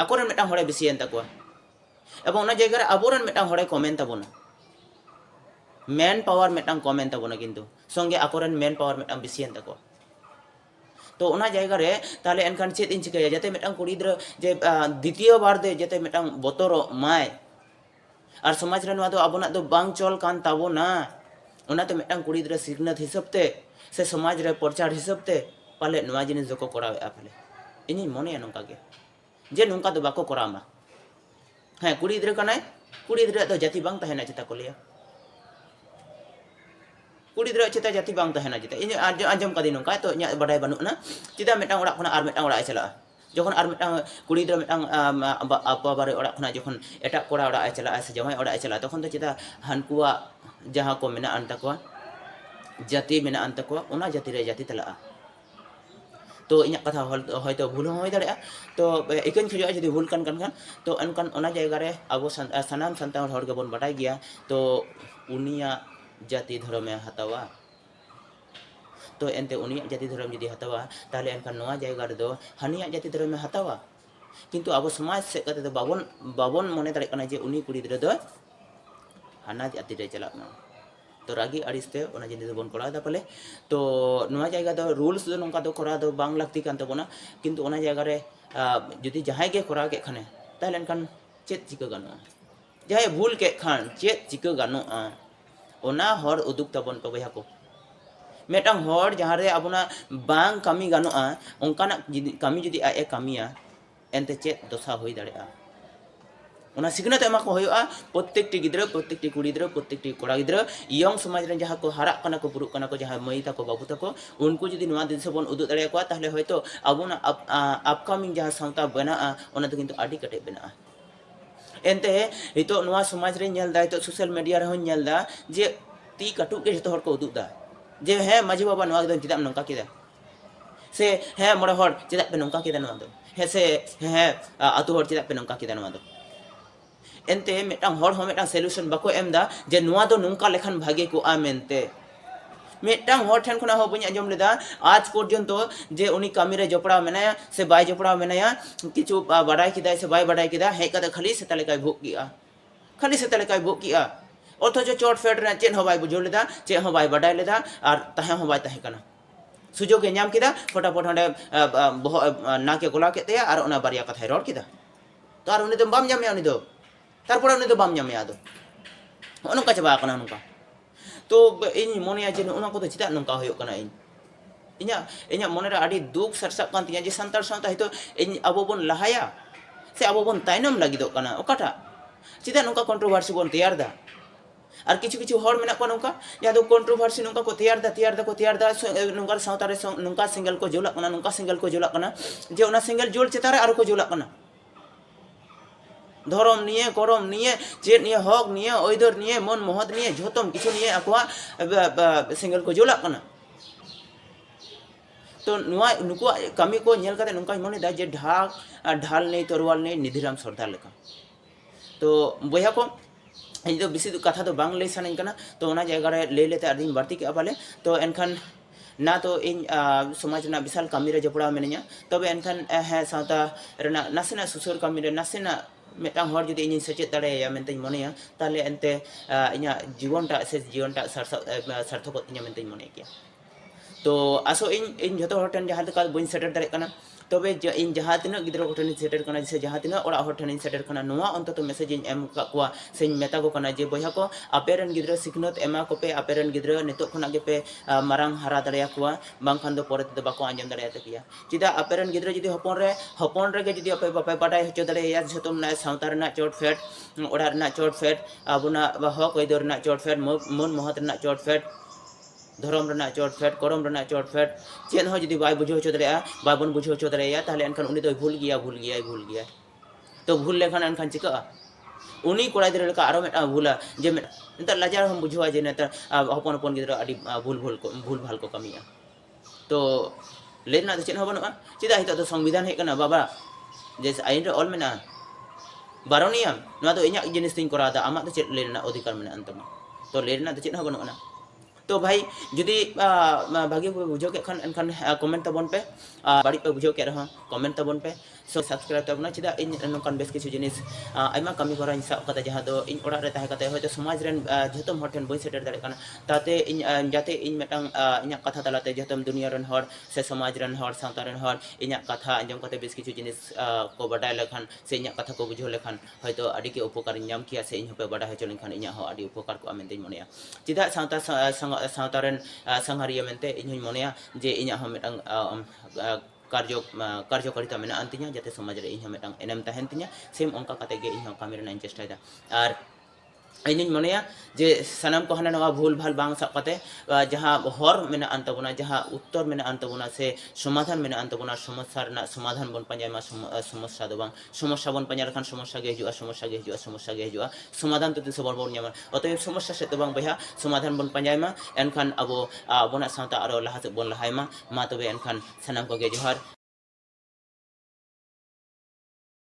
ᱟᱠᱚᱨᱮᱱ ᱢᱤᱫᱴᱟᱝ ᱦᱚᱲᱮ ᱵᱤᱥᱤᱭᱮᱱ ᱛᱟᱠᱚᱣᱟ ᱮᱵᱚᱝ ᱚᱱᱟ ᱡᱟᱭᱜᱟ ᱨᱮ ᱟᱵᱚᱨᱮᱱ ᱢᱤᱫᱴᱟᱝ ᱦᱚᱲᱮ ᱠᱚᱢᱮᱱ ᱛᱟᱵᱚᱱᱟ ᱢᱮᱱ ᱯᱟᱣᱟᱨ ᱢᱤᱫᱴᱟᱝ ᱠᱚᱢᱮᱱ ᱛᱟᱵᱚᱱᱟ ᱠᱤᱱᱛᱩ ᱥᱚᱝᱜᱮ ᱟᱠᱚᱨᱮᱱ ᱢᱮᱱ ᱯᱟᱣᱟᱨ ᱢᱤᱫᱴᱟᱝ ᱵᱤᱥᱤᱭᱮᱱ ᱛᱟᱠᱚᱣᱟ ᱛᱚ ᱚᱱᱟ ᱡᱟᱭᱜᱟ ᱨᱮ ᱛᱟᱦᱞᱮ ᱮᱱᱠᱷᱟᱱ ᱪᱮᱫ ᱤᱧ ᱪᱤᱠᱟᱹᱭᱟ ᱡᱟᱛᱮ ᱢᱤᱫᱴᱟᱝ ᱠᱩᱲᱤ ᱜᱤᱫᱽᱨᱟᱹ ᱡᱮ ᱫᱤᱛᱤᱭᱚ ᱵᱟᱨ ᱫᱚ ᱡᱟᱛᱮ ᱢᱤᱫᱴᱟᱝ ᱵᱚᱛᱚᱨᱚᱜ ᱢᱟᱭ ᱟᱨ ᱥᱚᱢᱟᱡᱽ ᱨᱮ ᱱᱚᱣᱟ ᱫᱚ ᱟᱵᱚᱱᱟᱜ ᱫᱚ ᱵᱟᱝ ᱪᱚᱞ ᱠᱟᱱ ᱛᱟᱵᱚᱱᱟ ᱚᱱᱟᱛᱮ ᱢᱤᱫᱴᱟᱝ ᱠᱩᱲᱤ ᱜᱤᱫᱽᱨᱟᱹ ᱥᱤᱠᱷᱱᱟᱹᱛ ᱦᱤᱥᱟᱹᱵ ᱛᱮ ᱥᱮ ᱥᱚᱢᱟᱡᱽ ᱨᱮ ᱯᱨᱚᱪᱟᱨ ᱦᱤᱥᱟᱹᱵ ᱛᱮ ᱯᱟᱞᱮ ᱱᱚᱣᱟ ᱡᱤᱱᱤᱥ ᱫᱚᱠᱚ ᱠᱚᱨᱟᱣᱮᱫᱼᱟ ᱯᱟᱞᱮ ᱤᱧᱤᱧ ᱢᱚᱱᱮᱭᱟ ᱱᱚᱝᱠᱟ ᱜᱮ ᱡᱮ ᱱᱚᱝᱠᱟ ᱫᱚ ᱵᱟᱠᱚ ᱠᱚᱨᱟᱣ ᱢᱟ ᱦᱮᱸ ᱠᱩᱲᱤ ᱜᱤᱫᱽᱨᱟᱹ ᱠᱟᱱᱟᱭ ᱠᱩᱲᱤ ᱜᱤᱫᱽᱨᱟᱹ ᱫᱚ ᱡᱟᱹᱛᱤ ᱵᱟᱝ ᱛᱟᱦᱮᱱᱟ ᱪᱮᱛᱟ ᱠᱚ ᱞᱟᱹᱭᱟ ᱠᱩᱲᱤ ᱜᱤᱫᱽᱨᱟᱹ ᱪᱮᱛᱟ ᱡᱟᱹᱛᱤ ᱵᱟᱝ ᱛᱟᱦᱮᱱᱟ ᱪᱮᱛᱟ ᱤᱧ ᱟᱸᱡᱚᱢ ᱠᱟᱹᱫᱟᱹᱧ ᱱᱚᱝᱠᱟ ᱛᱚ ᱤᱧᱟᱹᱜ ᱵᱟᱰᱟᱭ ᱵᱟᱹᱱᱩᱜ ᱟᱱᱟ ᱪᱮᱫᱟᱜ ᱢᱤᱫᱴᱟᱝ ᱚᱲᱟᱜ ᱠᱷᱚᱱᱟᱜ ᱟᱨ ᱢᱤᱫᱴᱟᱝ ᱚᱲᱟᱜ ᱮ ᱪᱟᱞᱟᱜᱼᱟ ᱡᱚᱠᱷᱚᱱ ᱟᱨ ᱢᱤᱫᱴᱟᱝ ᱠᱩᱲᱤ ᱜᱤᱫᱽᱨᱟᱹ ᱢᱤᱫᱴᱟᱝ ᱟᱯᱟᱵᱟᱨᱮ ᱚᱲᱟᱜ ᱠᱷᱚᱱᱟᱜ ᱡᱚᱠᱷᱚᱱ ᱮᱴᱟᱜ ᱠᱚᱲᱟ ᱚᱲᱟᱜ ᱮ ᱪᱟᱞᱟᱜᱼᱟ ᱥᱮ ᱡᱟᱶᱟᱭ ᱚᱲᱟᱜ ᱮ ᱪᱟᱞᱟᱜᱼᱟ ᱛᱚᱠᱷᱚᱱ ᱫᱚ ᱪᱮᱫᱟᱜ ᱦᱟᱹᱱᱠᱩᱣᱟᱜ ᱡᱟᱦᱟᱸ ᱠᱚ ᱢᱮᱱᱟᱜ ᱟᱱ ᱛᱟᱠᱚᱣᱟ ᱡᱟᱹᱛᱤ ᱢᱮᱱᱟᱜ ᱟᱱ ᱛᱟᱠᱚᱣᱟ ᱚᱱᱟ ᱡᱟᱹᱛᱤ ᱨᱮ ᱡᱟᱹᱛᱤ ᱛᱟᱞᱟᱜᱼᱟ ᱛᱚ ᱤᱧᱟᱹᱜ ᱠᱟᱛᱷᱟ ᱦᱚᱭᱛᱳ ᱵᱷᱩᱞ ᱦᱚᱸ ᱦᱩᱭ ᱫᱟᱲᱮᱭᱟᱜᱼᱟ ᱛᱚ ᱤᱠᱟᱹᱧ ᱠᱷᱚᱡᱚᱜᱼᱟ ᱡᱩᱫᱤ ᱵᱷᱩᱞ ᱠᱟᱱ ᱠᱷᱟᱱ ᱛᱚ ᱮᱱᱠᱷᱟᱱ ᱚᱱᱟ ᱡᱟᱭᱜᱟ ᱨᱮ ᱟᱵᱚ ᱥᱟᱱᱟᱢ ᱥᱟᱱᱛᱟᱲ ᱦᱚᱲ ᱜᱮᱵᱚᱱ ᱵᱟᱰᱟᱭ ᱜᱮᱭᱟ ᱛᱚ ᱩᱱᱤᱭᱟᱜ ᱡᱟᱹᱛᱤ ᱫᱷᱚᱨᱚᱢᱮ ᱦᱟᱛᱟᱣᱟ ᱛᱚ ᱮᱱᱛᱮ ᱩᱱᱤᱭᱟᱜ ᱡᱟᱹᱛᱤ ᱫᱷᱚᱨᱚᱢ ᱡᱩᱫᱤ ᱦᱟᱛᱟᱣᱟ ᱛᱟᱦᱚᱞᱮ ᱮᱱᱠᱷᱟᱱ ᱱᱚᱣᱟ ᱡᱟᱭᱜᱟ ᱨᱮᱫᱚ ᱦᱟᱹᱱᱤᱭᱟᱜ ᱡᱟᱹᱛᱤ ᱫᱷᱚᱨᱚᱢᱮ ᱦᱟᱛᱟᱣᱟ ᱠᱤᱱᱛᱩ ᱟᱵᱚ ᱥᱚᱢᱟᱡᱽ ᱥᱮᱫ ᱠᱟᱛᱮ ᱫᱚ ᱵᱟᱵᱚᱱ ᱵᱟᱵᱚᱱ ᱢᱚᱱᱮ ᱫᱟᱲᱮᱭᱟᱜ ᱠᱟᱱᱟ ᱡᱮ ᱩᱱᱤ ᱠᱩᱲᱤ ᱜᱤᱫᱽᱨᱟᱹ ᱫᱚ ᱦᱟᱱᱟ ᱡᱟᱹᱛᱤ ᱨᱮ ᱪᱟᱞᱟᱜ ᱢᱟ ᱛᱚ ᱨᱟᱹᱜᱤ ᱟᱹᱲᱤᱥ ᱛᱮ ᱚᱱᱟ ᱡᱤᱱᱤᱥ ᱫᱚᱵᱚᱱ ᱠᱚᱨᱟᱣ ᱮᱫᱟ ᱯᱟᱞᱮ ᱛᱚ ᱱᱚᱣᱟ ᱡᱟᱭᱜᱟ ᱫᱚ ᱨᱩᱞᱥ ᱫᱚ ᱱᱚᱝᱠᱟ ᱫᱚ ᱠᱚᱨᱟᱣ ᱫᱚ ᱵᱟᱝ ᱞᱟᱹᱠᱛᱤ ᱠᱟᱱ ᱛᱟᱵᱚᱱᱟ ᱠᱤᱱᱛᱩ ᱚᱱᱟ ᱡᱟᱭᱜᱟ ᱨᱮ ᱡᱩᱫᱤ ᱡᱟᱦᱟᱸᱭ ᱜᱮ ᱠᱚᱨᱟᱣ ᱠᱮᱫ ᱠᱷᱟᱱᱮ ᱛᱟᱦᱚᱞᱮ ᱮᱱᱠᱷᱟᱱ ᱪᱮᱫ ᱪᱤᱠᱟᱹ ᱜᱟᱱᱚᱜᱼᱟ ᱡᱟᱦᱟᱸᱭᱮ ᱵᱷᱩᱞ ᱠᱮᱫ ᱠᱷᱟᱱ ᱪᱮᱫ ᱪᱤᱠᱟᱹ ᱜᱟᱱᱚᱜᱼᱟ ᱚᱱᱟ ᱦᱚᱨ ᱩᱫᱩᱜ ᱛᱟᱵᱚᱱ ᱯᱮ ᱵᱚᱭᱦᱟ ᱠᱚ ᱢᱤᱫᱴᱟᱝ ᱦᱚᱲ ᱡᱟᱦᱟᱸ ᱨᱮ ᱟᱵᱚᱱᱟᱜ ᱵᱟᱝ ᱠᱟᱹᱢᱤ ᱜᱟᱱᱚᱜᱼᱟ ᱚᱱᱠᱟᱱᱟᱜ ᱠᱟᱹᱢᱤ ᱡᱩᱫᱤ ᱟᱡ ᱮ ᱠᱟᱹᱢᱤᱭᱟ ᱮᱱᱛᱮ ᱪᱮᱫ ᱫᱚᱥᱟ ᱦᱩᱭ ᱫᱟᱲᱮᱭᱟᱜᱼᱟ ᱚᱱᱟ ᱥᱤᱠᱷᱱᱟᱹᱛ ᱮᱢᱟ ᱠᱚ ᱦᱩᱭᱩᱜᱼᱟ ᱯᱨᱚᱛᱛᱮᱠᱴᱤ ᱜᱤᱫᱽᱨᱟᱹ ᱯᱨᱚᱛᱛᱮᱠᱴᱤ ᱠᱩᱲᱤ ᱜᱤᱫᱽᱨᱟᱹ ᱯᱨᱚᱛᱛᱮᱠᱴᱤ ᱠᱚᱲᱟ ᱜᱤᱫᱽᱨᱟᱹ ᱤᱭᱚᱝ ᱥᱚᱢᱟᱡᱽ ᱨᱮᱱ ᱡᱟᱦᱟᱸ ᱠᱚ ᱦᱟᱨᱟᱜ ᱠᱟᱱᱟ ᱠᱚ ᱵᱩᱨᱩᱜ ᱠᱟᱱᱟ ᱠᱚ ᱡᱟᱦᱟᱸ ᱢᱟᱹᱭ ᱛᱟᱠᱚ ᱵᱟᱹᱵᱩ ᱛᱟᱠᱚ ᱩᱱᱠᱩ ᱡᱩᱫᱤ ᱱᱚᱣᱟ ᱫᱤᱥᱟᱹ ᱵᱚᱱ ᱩᱫᱩᱜ ᱫᱟᱲᱮᱭᱟᱠᱚᱣᱟ ᱛᱟᱦᱞᱮ ᱦᱚᱭᱛᱳ ᱟᱵᱚᱱᱟᱜ ᱟᱯᱠᱟᱢᱤᱝ ᱡᱟᱦᱟᱸ ᱥᱟᱶᱛᱟ ᱵᱮᱱᱟᱜᱼᱟ ᱚᱱᱟ ᱫᱚ ᱠᱤᱱᱛᱩ ᱟᱹᱰᱤ ᱠᱮᱴᱮᱡ ᱵᱮᱱᱟᱜᱼᱟ ᱮᱱᱛᱮ ᱱᱤᱛᱚᱜ ᱱᱚᱣᱟ ᱥᱚᱢᱟᱡᱽ ᱨᱮᱧ ᱧᱮᱞ ᱮᱫᱟ ᱱᱤᱛᱚᱜ ᱥᱳᱥᱟᱞ ᱢᱤᱰᱤᱭᱟ ᱨᱮᱦᱚᱸᱧ ᱧᱮᱞ ᱮᱫᱟ ᱡᱮ ᱛᱤ ᱠᱟᱹᱴᱩᱵ ᱜᱮ ᱡᱚᱛᱚ ᱦᱚᱲ ᱠᱚ ᱩᱫᱩᱜ ᱮᱫᱟ ᱡᱮ ᱦᱮᱸ ᱢᱟᱹᱡᱷᱤ ᱵᱟᱵᱟ ᱱᱚᱣᱟ ᱫᱚ ᱪᱮᱫᱟᱜ ᱱᱚᱝᱠᱟ ᱠᱮᱫᱟ ᱥᱮ ᱦᱮᱸ ᱢᱚᱬᱮ ᱦᱚᱲ ᱪᱮᱫᱟᱜ ᱯᱮ ᱱᱚᱝᱠᱟ ᱠᱮᱫᱟ ᱱᱚᱣᱟ ᱫᱚ ᱦᱮᱸ ᱥᱮ ᱦᱮᱸ ᱟᱛᱳ ᱦᱚᱲ ᱪᱮᱫᱟᱜ ᱯᱮ ᱱᱚᱝᱠᱟ ᱠᱮᱫᱟ ᱱᱚᱣᱟ ᱫᱚ ᱮᱱᱛᱮ ᱢᱤᱫᱴᱟᱝ ᱦᱚᱲ ᱦᱚᱸ ᱢᱤᱫᱴᱟᱝ ᱥᱚᱞᱩᱥᱚᱱ ᱵᱟᱠᱚ ᱮᱢ ᱮᱫᱟ ᱡᱮ ᱱᱚᱣᱟ ᱫᱚ ᱱᱚᱝᱠᱟ ᱞᱮᱠᱷᱟᱱ ᱵᱷᱟᱜᱮ ᱠᱚᱜᱼᱟ ᱢᱮᱱᱛᱮ ᱢᱤᱫᱴᱟᱝ ᱦᱚᱲ ᱴᱷᱮᱱ ᱠᱷᱚᱱᱟᱜ ᱦᱚᱸ ᱵᱟᱹᱧ ᱟᱸᱡᱚᱢ ᱞᱮᱫᱟ ᱟᱡᱽ ᱯᱚᱨᱡᱚᱱᱛᱚ ᱡᱮ ᱩᱱᱤ ᱠᱟᱹᱢᱤ ᱨᱮ ᱡᱚᱯᱲᱟᱣ ᱢᱮᱱᱟᱭᱟ ᱥᱮ ᱵᱟᱭ ᱡᱚᱯᱲᱟᱣ ᱢᱮᱱᱟᱭᱟ ᱠᱤᱪᱷᱩ ᱵᱟᱰᱟᱭ ᱠᱮᱫᱟᱭ ᱥᱮ ᱵᱟᱭ ᱵᱟᱰᱟᱭ ᱠᱮᱫᱟ ᱦᱮᱡ ᱠᱟᱛᱮ ᱠᱷᱟᱹᱞᱤ ᱥᱮᱛᱟ ᱞᱮᱠᱟᱭ ᱵᱷᱩᱜ ᱠᱮᱜᱼᱟ ᱠᱷᱟᱹᱞᱤ ᱥᱮᱛᱟ ᱞᱮᱠᱟᱭ ᱵᱷᱩᱜ ᱠᱮᱜᱼᱟ ᱚᱛᱷᱚᱪᱚ ᱪᱚᱴ ᱯᱷᱮᱰ ᱨᱮ ᱪᱮᱫ ᱦᱚᱸ ᱵᱟᱭ ᱵᱩᱡᱷᱟᱹᱣ ᱞᱮᱫᱟ ᱪᱮᱫ ᱦᱚᱸ ᱵᱟᱭ ᱵᱟᱰᱟᱭ ᱞᱮᱫᱟ ᱟᱨ ᱛᱟᱦᱮᱸ ᱦᱚᱸ ᱵᱟᱭ ᱛᱟᱦᱮᱸ ᱠᱟᱱᱟ ᱥᱩᱡᱳᱜᱽ ᱮ ᱧᱟᱢ ᱠᱮᱫᱟ ᱯᱷᱚᱴᱟᱯᱷᱚᱴ ᱦᱟᱸᱰᱮ ᱵᱚᱦᱚᱜ ᱱᱟᱠᱮ ᱜᱚᱞᱟ ᱠᱮᱫ ᱛᱟᱭᱟ ᱟᱨ ᱚᱱᱟ ᱵᱟᱨᱭᱟ ᱠᱟᱛᱷᱟᱭ ᱨᱚᱲ ᱠᱮᱫᱟ ᱛᱚ ᱟᱨ ᱩᱱᱤ ᱫᱚ ᱵᱟᱢ ᱧᱟᱢᱮᱭᱟ ᱩᱱᱤ ᱫᱚ ᱛᱟᱨᱯᱚᱨᱮ ᱩᱱᱤ ᱫᱚ ᱵᱟᱢ ᱧᱟᱢᱮᱭᱟ ᱟᱫᱚ ᱦᱚᱸᱜᱼᱚ ᱱᱚᱝᱠᱟ ᱪᱟᱵᱟ ᱟᱠᱟᱱᱟ ᱱᱚᱝᱠᱟ ᱛᱚ ᱤᱧ ᱢᱚᱱᱮᱭᱟ ᱡᱮ ᱱᱚᱜᱼᱚ ᱱᱚᱣᱟ ᱠᱚᱫᱚ ᱪᱮᱫᱟᱜ ᱱᱚᱝᱠᱟ ᱦᱩᱭᱩᱜ ᱠᱟᱱᱟ ᱤᱧ ᱤᱧᱟᱹᱜ ᱤᱧᱟᱹᱜ ᱢᱚᱱᱮᱨᱮ ᱟᱹᱰᱤ ᱫᱩᱠ ᱥᱟᱨᱥᱟᱜ ᱠᱟᱱ ᱛᱤᱧᱟᱹ ᱡᱮ ᱥᱟᱱᱛᱟᱲ ᱥᱟᱶᱛᱟ ᱦᱤᱛᱳᱜ ᱤᱧ ᱟᱵᱚ ᱵᱚᱱ ᱞᱟᱦᱟᱭᱟ ᱥᱮ ᱟᱵᱚ ᱵᱚᱱ ᱛᱟᱭᱱᱚᱢ ᱞᱟᱹᱜᱤᱫᱚᱜ ᱠᱟᱱᱟ ᱚᱠᱟᱴᱟᱜ ᱪᱮᱫᱟᱜ ᱱᱚᱝᱠᱟ ᱠᱚᱱᱴᱨᱳᱵᱷᱟᱨᱥᱤ ᱵᱚᱱ ᱛᱮᱭᱟᱨ ᱫᱟ ᱟᱨ ᱠᱤᱪᱷᱩ ᱠᱤᱪᱷᱩ ᱦᱚᱲ ᱢᱮᱱᱟᱜ ᱠᱚᱣᱟ ᱱᱚᱝᱠᱟ ᱡᱟᱦᱟᱸ ᱫᱚ ᱠᱚᱱᱴᱨᱳᱵᱷᱟᱨᱥᱤ ᱱᱚᱝᱠᱟ ᱠᱚ ᱛᱮᱭᱟᱨ ᱫᱟ ᱛᱮᱭᱟᱨ ᱫᱟᱠᱚ ᱛᱮᱭᱟᱨ ᱫᱟ ᱱᱚᱝᱠᱟ ᱥᱟᱶᱛᱟ ᱨᱮ ᱱᱚᱝᱠᱟ ᱥᱮᱸᱜᱮᱞ ᱠᱚ ᱡᱩᱞᱟᱜ ᱠᱟᱱᱟ ᱱᱚᱝᱠᱟ ᱥᱮᱸᱜᱮᱞ ᱠᱚ ᱡᱩᱞᱟᱜ ᱠᱟᱱᱟ ᱡᱮ ᱚᱱᱟ ᱥᱮᱸᱜᱮᱞ ᱡᱩᱞ ᱪᱮᱛᱟᱱ ᱨᱮ ᱟᱨᱚ ᱠᱚ ᱡᱩᱞᱟᱜ ᱠᱟᱱᱟ ᱫᱷᱚᱨᱚᱢ ᱱᱤᱭᱮ ᱠᱚᱨᱚᱢ ᱱᱤᱭᱮ ᱪᱮᱫ ᱱᱤᱭᱮ ᱦᱚᱠ ᱱᱤᱭᱮ ᱟᱹᱭᱫᱟᱹᱨ ᱱᱤᱭᱮ ᱢᱟᱹᱱ ᱢᱚᱦᱚᱛ ᱱᱤᱭᱮ ᱡᱷᱚᱛᱚᱢ ᱠᱤᱪᱷᱩ ᱱᱤᱭᱮ ᱟᱠᱚᱣᱟᱜ ᱥᱮᱸᱜᱮᱞ ᱠᱚ ᱡᱩᱞᱟᱜ ᱠᱟᱱᱟ ᱛᱚ ᱱᱚᱣᱟ ᱱᱩᱠᱩᱣᱟᱜ ᱠᱟᱹᱢᱤ ᱠᱚ ᱧᱮᱞ ᱠᱟᱛᱮ ᱱᱚᱝᱠᱟᱧ ᱢᱚᱱᱮᱭᱮᱫᱟ ᱡᱮ ᱰᱷᱟᱠ ᱰᱷᱟᱞ ᱱᱮᱭ ᱛᱚᱨᱣᱟᱞ ᱱᱮᱭ ᱱᱤᱫᱷᱤᱨᱟᱢ ᱥᱚᱨᱫᱟᱨ ᱞᱮᱠᱟ ᱛᱚ ᱵᱚᱭᱦᱟ ᱠᱚ ᱤᱧ ᱫᱚ ᱵᱮᱥᱤ ᱫᱚ ᱠᱟᱛᱷᱟ ᱫᱚ ᱵᱟᱝ ᱞᱟᱹᱭ ᱥᱟᱱᱟᱧ ᱠᱟᱱᱟ ᱛᱚ ᱚᱱᱟ ᱡᱟᱭᱜᱟ ᱨᱮ ᱞᱟᱹᱭ ᱞᱟᱹᱭᱛᱮ ᱟᱹᱰᱤᱧ ᱵᱟᱹᱲᱛᱤ ᱠᱮᱜᱼᱟ ᱯᱟᱞᱮ ᱛᱚ ᱮᱱᱠᱷᱟᱱ ᱱᱟ ᱛᱚ ᱤᱧ ᱥᱚᱢᱟᱡᱽ ᱨᱮᱱᱟᱜ ᱵᱤᱥᱟᱞ ᱠᱟᱹᱢᱤ ᱨᱮ ᱡᱚᱯᱲᱟᱣ ᱢᱤᱱᱟᱹᱧᱟ ᱛᱚᱵᱮ ᱮᱱᱠᱷᱟᱱ ᱦᱮᱸ ᱥᱟᱶᱛᱟ ᱨᱮᱱᱟᱜ ᱱᱟᱥᱮᱱᱟᱜ ᱥᱩᱥᱟᱹᱨ ᱠᱟᱹᱢᱤ ᱨᱮ ᱱᱟᱥᱮᱱᱟᱜ ᱢᱤᱫᱴᱟᱝ ᱦᱚᱲ ᱡᱩᱫᱤ ᱤᱧᱤᱧ ᱥᱮᱪᱮᱫ ᱫᱟᱲᱮᱭᱟᱭᱟ ᱢᱮᱱᱛᱮᱧ ᱢᱚᱱᱮᱭᱟ ᱛᱟᱦᱚᱞᱮ ᱮᱱᱛᱮ ᱤᱧᱟᱹᱜ ᱡᱤᱵᱚᱱᱴᱟᱜ ᱥᱮ ᱡᱤᱭᱚᱱᱴᱟᱜ ᱥᱟᱨᱥᱟᱜ ᱥᱟᱨᱛᱷᱚᱠᱚᱜ ᱛᱤᱧᱟᱹ ᱢᱮᱱᱛᱮᱧ ᱢᱚᱱᱮ ᱠᱮᱭᱟ ᱛᱚ ᱟᱥᱚᱜ ᱤᱧ ᱤᱧ ᱡᱷᱚᱛᱚ ᱦᱚᱲ ᱴᱷᱮᱱ ᱡᱟᱦᱟᱸ ᱞᱮᱠᱟ ᱵᱟᱹᱧ ᱥᱮᱴᱮᱨ ᱫᱟᱲᱮᱭᱟᱜ ᱠᱟᱱᱟ ᱛᱚᱵᱮ ᱤᱧ ᱡᱟᱦᱟᱸ ᱛᱤᱱᱟᱹᱜ ᱜᱤᱫᱽᱨᱟᱹ ᱠᱚ ᱴᱷᱮᱱᱤᱧ ᱥᱮᱴᱮᱨ ᱠᱟᱱᱟ ᱥᱮ ᱡᱟᱦᱟᱸ ᱛᱤᱱᱟᱹᱜ ᱚᱲᱟᱜ ᱦᱚᱲ ᱴᱷᱮᱱᱤᱧ ᱥᱮᱴᱮᱨ ᱠᱟᱱᱟ ᱱᱚᱣᱟ ᱚᱱᱛᱚᱛᱚ ᱢᱮᱥᱮᱡᱽ ᱤᱧ ᱮᱢ ᱟᱠᱟᱫ ᱠᱚᱣᱟ ᱥᱮᱧ ᱢᱮᱛᱟ ᱠᱚ ᱠᱟᱱᱟ ᱡᱮ ᱵᱚᱭᱦᱟ ᱠᱚ ᱟᱯᱮ ᱨᱮᱱ ᱜᱤᱫᱽᱨᱟᱹ ᱥᱤᱠᱷᱱᱟᱹᱛ ᱮᱢᱟ ᱠᱚᱯᱮ ᱟᱯᱮ ᱨᱮᱱ ᱜᱤᱫᱽᱨᱟᱹ ᱱᱤᱛᱚᱜ ᱠᱷᱚᱱᱟᱜ ᱜᱮᱯᱮ ᱢᱟᱨᱟᱝ ᱦᱟᱨᱟ ᱫᱟᱲᱮᱭᱟᱠᱚᱣᱟ ᱵᱟᱝᱠᱷᱟᱱ ᱫᱚ ᱯᱚᱨᱮ ᱛᱮᱫᱚ ᱵᱟᱠᱚ ᱟᱸᱡᱚᱢ ᱫᱟᱲᱮᱭᱟ ᱛᱟᱯᱮᱭᱟ ᱪᱮᱫᱟᱜ ᱟᱯᱮ ᱨᱮᱱ ᱜᱤᱫᱽᱨᱟᱹ ᱡᱩᱫᱤ ᱦᱚᱯᱚᱱ ᱨᱮ ᱦᱚᱯᱚᱱ ᱨᱮᱜᱮ ᱡᱩᱫᱤ ᱟᱯᱮ ᱵᱟᱯᱮ ᱵᱟᱰᱟᱭ ᱦᱚᱪᱚ ᱫᱟᱲᱮᱭᱟᱭᱟ ᱡᱷᱚᱛᱚ ᱢᱮᱱᱟᱜᱼᱟ ᱥᱟᱶᱛᱟ ᱨᱮᱱᱟᱜ ᱪᱚᱴ ᱯᱷᱮᱰ ᱚᱲᱟᱜ ᱨᱮᱱᱟᱜ ᱪᱚᱴ ᱯᱷᱮᱰ ᱟᱵᱚᱱᱟᱜ ᱦᱚᱠ ᱟᱹᱭᱫᱟᱹᱨ ᱨᱮᱱᱟᱜ ᱪᱚᱴ ᱯᱷᱮᱰ ᱢᱟᱹᱱ ᱢᱚᱦᱚᱛ ᱨᱮᱱᱟᱜ ᱪᱚᱴ ᱯᱷᱮᱰ ᱫᱷᱚᱨᱚᱢ ᱨᱮᱱᱟᱜ ᱪᱚᱴ ᱯᱷᱮᱰ ᱠᱚᱨᱚᱢ ᱨᱮᱱᱟᱜ ᱪᱚᱴ ᱯᱷᱮᱰ ᱪᱮᱫ ᱦᱚᱸ ᱡᱩᱫᱤ ᱵᱟᱭ ᱵᱩᱡᱷᱟᱹᱣ ᱦᱚᱪᱚ ᱫᱟᱲᱮᱭᱟᱜᱼᱟ ᱵᱟᱵᱚᱱ ᱵᱩᱡᱷᱟᱹᱣ ᱦᱚᱪᱚ ᱫᱟᱲᱮᱭᱟᱭᱟ ᱛᱟᱦᱚᱞᱮ ᱮᱱᱠᱷᱟᱱ ᱩᱱᱤ ᱫᱚᱭ ᱵᱷᱩᱞ ᱜᱮᱭᱟ ᱵᱷᱩᱞ ᱜᱮᱭᱟᱭ ᱵᱷᱩᱞ ᱜᱮᱭᱟᱭ ᱛᱚ ᱵᱷᱩᱞ ᱞᱮᱠᱷᱟᱱ ᱮᱱᱠᱷᱟᱱ ᱪᱤᱠᱟᱹᱜᱼᱟ ᱩᱱᱤ ᱠᱚᱲᱟ ᱜᱤᱫᱽᱨᱟᱹ ᱞᱮᱠᱟ ᱟᱨᱚ ᱢᱤᱫᱴᱟᱝ ᱵᱷᱩᱞᱟ ᱡᱮ ᱱᱮᱛᱟᱨ ᱞᱟᱡᱟᱣ ᱦᱚᱸᱢ ᱵᱩᱡᱷᱟᱹᱣᱟ ᱡᱮ ᱱᱮᱛᱟᱨ ᱦᱚᱯᱚᱱ ᱦᱚᱯᱚᱱ ᱜᱤᱫᱽᱨᱟᱹ ᱟᱹᱰᱤ ᱵᱷᱩᱞ ᱵᱷᱩᱞ ᱠᱚ ᱵᱷᱩᱞ ᱵᱷᱟᱞ ᱠᱚ ᱠᱟᱹᱢᱤᱭᱮᱫᱼᱟ ᱛᱚ ᱞᱟᱹᱭ ᱨᱮᱱᱟᱜ ᱫᱚ ᱪᱮᱫ ᱦᱚᱸ ᱵᱟᱹᱱᱩᱜᱼᱟ ᱪᱮᱫᱟᱜ ᱱᱤᱛᱚᱜ ᱫᱚ ᱥᱚᱝᱵᱤᱫᱷᱟᱱ ᱦᱮᱡ ᱠᱟᱱᱟ ᱵᱟᱵᱟ ᱡᱮ ᱟᱭᱤᱱ ᱨᱮ ᱚᱞ ᱢᱮᱱᱟᱜᱼᱟ ᱵᱟᱨᱚᱱᱤᱭᱟᱢ ᱱᱚᱣᱟ ᱫᱚ ᱤᱧᱟᱹᱜ ᱡᱤᱱᱤᱥ ᱛᱤᱧ ᱠᱚᱨᱟᱣ ᱮᱫᱟ ᱟᱢᱟᱜ ᱫᱚ ᱪᱮᱫ ᱞᱟᱹᱭ ᱨᱮᱱᱟᱜ ᱚᱫᱷᱤᱠᱟᱨ ᱢᱮᱱᱟᱜ ᱟᱱ ᱛᱟᱢᱟ ᱛᱚ ᱞᱟᱹᱭ ᱨᱮᱱᱟᱜ ᱫᱚ ᱪᱮᱫ ᱦᱚᱸ ᱵᱟᱹᱱᱩᱜ ᱟᱱᱟ ᱛᱚ ᱵᱷᱟᱭ ᱡᱩᱫᱤ ᱵᱷᱟᱜᱮ ᱯᱮ ᱵᱩᱡᱷᱟᱹᱣ ᱠᱮᱫ ᱠᱷᱟᱱ ᱮᱱᱠᱷᱟᱱ ᱠᱚᱢᱮᱱᱴ ᱛᱟᱵᱚᱱ ᱯᱮ ᱵᱟᱹᱲᱤᱡ ᱯᱮ ᱵᱩᱡᱷᱟᱹᱣ ᱠᱮᱫ ᱨᱮᱦᱚᱸ ᱠᱚᱢᱮᱱᱴ ᱛᱟᱵᱚᱱ ᱯᱮ ᱥᱚ ᱥᱟᱵᱥᱠᱨᱟᱭᱤᱵ ᱛᱟᱵᱚᱱᱟ ᱪᱮᱫᱟᱜ ᱤᱧ ᱱᱚᱝᱠᱟᱱ ᱵᱮᱥ ᱠᱤᱪᱷᱩ ᱡᱤᱱᱤᱥ ᱟᱭᱢᱟ ᱠᱟᱹᱢᱤ ᱦᱚᱨᱟᱧ ᱥᱟᱵ ᱠᱟᱫᱟ ᱡᱟᱦᱟᱸ ᱫᱚ ᱤᱧ ᱚᱲᱟᱜ ᱨᱮ ᱛᱟᱦᱮᱸ ᱠᱟᱛᱮ ᱦᱚᱭᱛᱚ ᱥᱚᱢᱟᱡᱽ ᱨᱮᱱ ᱡᱷᱚᱛᱚᱢ ᱦᱚᱲ ᱴᱷᱮᱱ ᱵᱟᱹᱧ ᱥᱮᱴᱮᱨ ᱫᱟᱲᱮᱭᱟᱜ ᱠᱟᱱᱟ ᱛᱟᱛᱮ ᱤᱧ ᱡᱟᱛᱮ ᱤᱧ ᱢᱤᱫᱴᱟᱝ ᱤᱧᱟᱹᱜ ᱠᱟᱛᱷᱟ ᱛᱟᱞᱟᱛᱮ ᱡᱷᱚᱛᱚᱢ ᱫᱩᱱᱤᱭᱟᱹ ᱨᱮᱱ ᱦᱚᱲ ᱥᱮ ᱥᱚᱢᱟᱡᱽ ᱨᱮᱱ ᱦᱚᱲ ᱥᱟᱶᱛᱟ ᱨᱮᱱ ᱦᱚᱲ ᱤᱧᱟᱹᱜ ᱠᱟᱛᱷᱟ ᱟᱸᱡᱚᱢ ᱠᱟᱛᱮ ᱵᱮᱥ ᱠᱤᱪᱷᱩ ᱡᱤᱱᱤᱥ ᱠᱚ ᱵᱟᱰᱟᱭ ᱞᱮᱠᱷᱟᱱ ᱥᱮ ᱤᱧᱟᱹᱜ ᱠᱟᱛᱷᱟ ᱠᱚ ᱵᱩᱡᱷᱟᱹᱣ ᱞᱮᱠᱷᱟᱱ ᱦᱚᱭᱛᱚ ᱟᱹᱰᱤ ᱜᱮ ᱩᱯᱚᱠᱟᱨ ᱤᱧ ᱧᱟᱢ ᱠᱮᱭᱟ ᱥᱮ ᱤᱧ ᱦᱚᱸᱯᱮ ᱵᱟᱰᱟᱭ ᱦᱚᱪᱚ ᱞᱮᱱᱠᱷᱟᱱ ᱤᱧᱟᱹᱜ ᱦᱚᱸ ᱟᱹᱰᱤ ᱩᱯᱚᱠᱟᱨ ᱠᱚᱜᱼᱟ ᱢᱮᱱᱛᱮ ᱤᱧ ᱢᱚᱱᱮᱭᱟ ᱪᱮᱫᱟᱜ ᱥᱟᱶᱛᱟ ᱥᱟᱶᱛᱟ ᱨᱮᱱ ᱥᱟᱸᱜᱷᱟᱨᱤᱭᱟᱹ ᱢᱮᱱᱛᱮ ᱤᱧ ᱦᱚᱸᱧ ᱢᱚᱱᱮᱭᱟ ᱡᱮ ᱤᱧᱟᱹᱜ ᱦᱚᱸ ᱢᱤᱫᱴᱟᱝ ᱠᱟᱨᱡᱚ ᱠᱟᱨᱡᱚᱠᱟᱨᱤᱛᱟ ᱢᱮᱱᱟᱜ ᱟᱱ ᱛᱤᱧᱟ ᱡᱟᱛᱮ ᱥᱚᱢᱟᱡᱽ ᱨᱮ ᱤᱧ ᱦᱚᱸ ᱢᱤᱫᱴᱟᱝ ᱮᱱᱮᱢ ᱛᱟᱦᱮᱱ ᱛᱤᱧᱟ ᱥᱮᱢ ᱚᱱᱠᱟ ᱠᱟᱛᱮ ᱜᱮ ᱤᱧ ᱦᱚᱸ ᱠᱟᱹᱢᱤ ᱨᱮᱱᱟᱜ ᱤᱧ ᱪᱮᱥᱴᱟᱭᱮᱫᱟ ᱟᱨ ᱤᱧᱤᱧ ᱢᱚᱱᱮᱭᱟ ᱡᱮ ᱥᱟᱱᱟᱢ ᱠᱚ ᱦᱟᱱᱟ ᱱᱟᱣᱟ ᱵᱷᱩᱞ ᱵᱷᱟᱞ ᱵᱟᱝ ᱥᱟᱵ ᱠᱟᱛᱮ ᱡᱟᱦᱟᱸ ᱦᱚᱨ ᱢᱮᱱᱟᱜ ᱟᱱ ᱛᱟᱵᱚᱱᱟ ᱡᱟᱦᱟᱸ ᱩᱛᱛᱚᱨ ᱢᱮᱱᱟᱜ ᱟᱱ ᱛᱟᱵᱚᱱᱟ ᱥᱮ ᱥᱚᱢᱟᱫᱷᱟᱱ ᱢᱮᱱᱟᱜ ᱟᱱ ᱛᱟᱵᱚᱱᱟ ᱥᱚᱢᱚᱥᱥᱟ ᱨᱮᱱᱟᱜ ᱥᱚᱢᱟᱫᱷᱟᱱ ᱵᱚᱱ ᱯᱟᱸᱡᱟᱭ ᱢᱟ ᱥᱚᱢᱚᱥᱥᱟ ᱫᱚ ᱵᱟᱝ ᱥᱚᱢᱚᱥᱥᱟ ᱵᱚᱱ ᱯᱟᱸᱡᱟ ᱞᱮᱠᱷᱟᱱ ᱥᱚᱢᱚᱥᱥᱟ ᱜᱮ ᱦᱤᱡᱩᱜᱼᱟ ᱥᱚᱢᱚᱥᱥᱟ ᱜᱮ ᱦᱤᱡᱩᱜᱼᱟ ᱥᱚᱢᱚᱥᱥᱟ ᱜᱮ ᱦᱤᱡᱩᱜᱼᱟ ᱥᱚᱢᱟᱫᱷᱟᱱ ᱫᱚ ᱛᱤᱥ ᱦᱚᱸ ᱵᱟᱵᱚᱱ ᱧᱟᱢᱟ ᱚᱛᱚᱭᱮᱵ ᱥᱚᱢᱚᱥᱥᱟ ᱥᱮᱫ ᱫᱚ ᱵᱟᱝ ᱵᱚᱭᱦᱟ ᱥᱚᱢᱟᱫᱷᱟᱱ ᱵᱚᱱ ᱯᱟᱸᱡᱟᱭ ᱢᱟ ᱮᱱᱠᱷᱟᱱ ᱟᱵᱚ ᱟᱵᱚᱱᱟᱜ ᱥᱟᱶᱛᱟ ᱟᱨᱚ ᱞᱟᱦᱟ ᱥᱮᱫ ᱵᱚᱱ ᱞᱟᱦᱟᱭ ᱢᱟ ᱢᱟ ᱛᱚᱵᱮ ᱮᱱᱠᱷᱟᱱ ᱥᱟᱱᱟᱢ ᱠᱚᱜᱮ ᱡᱚᱦᱟᱨ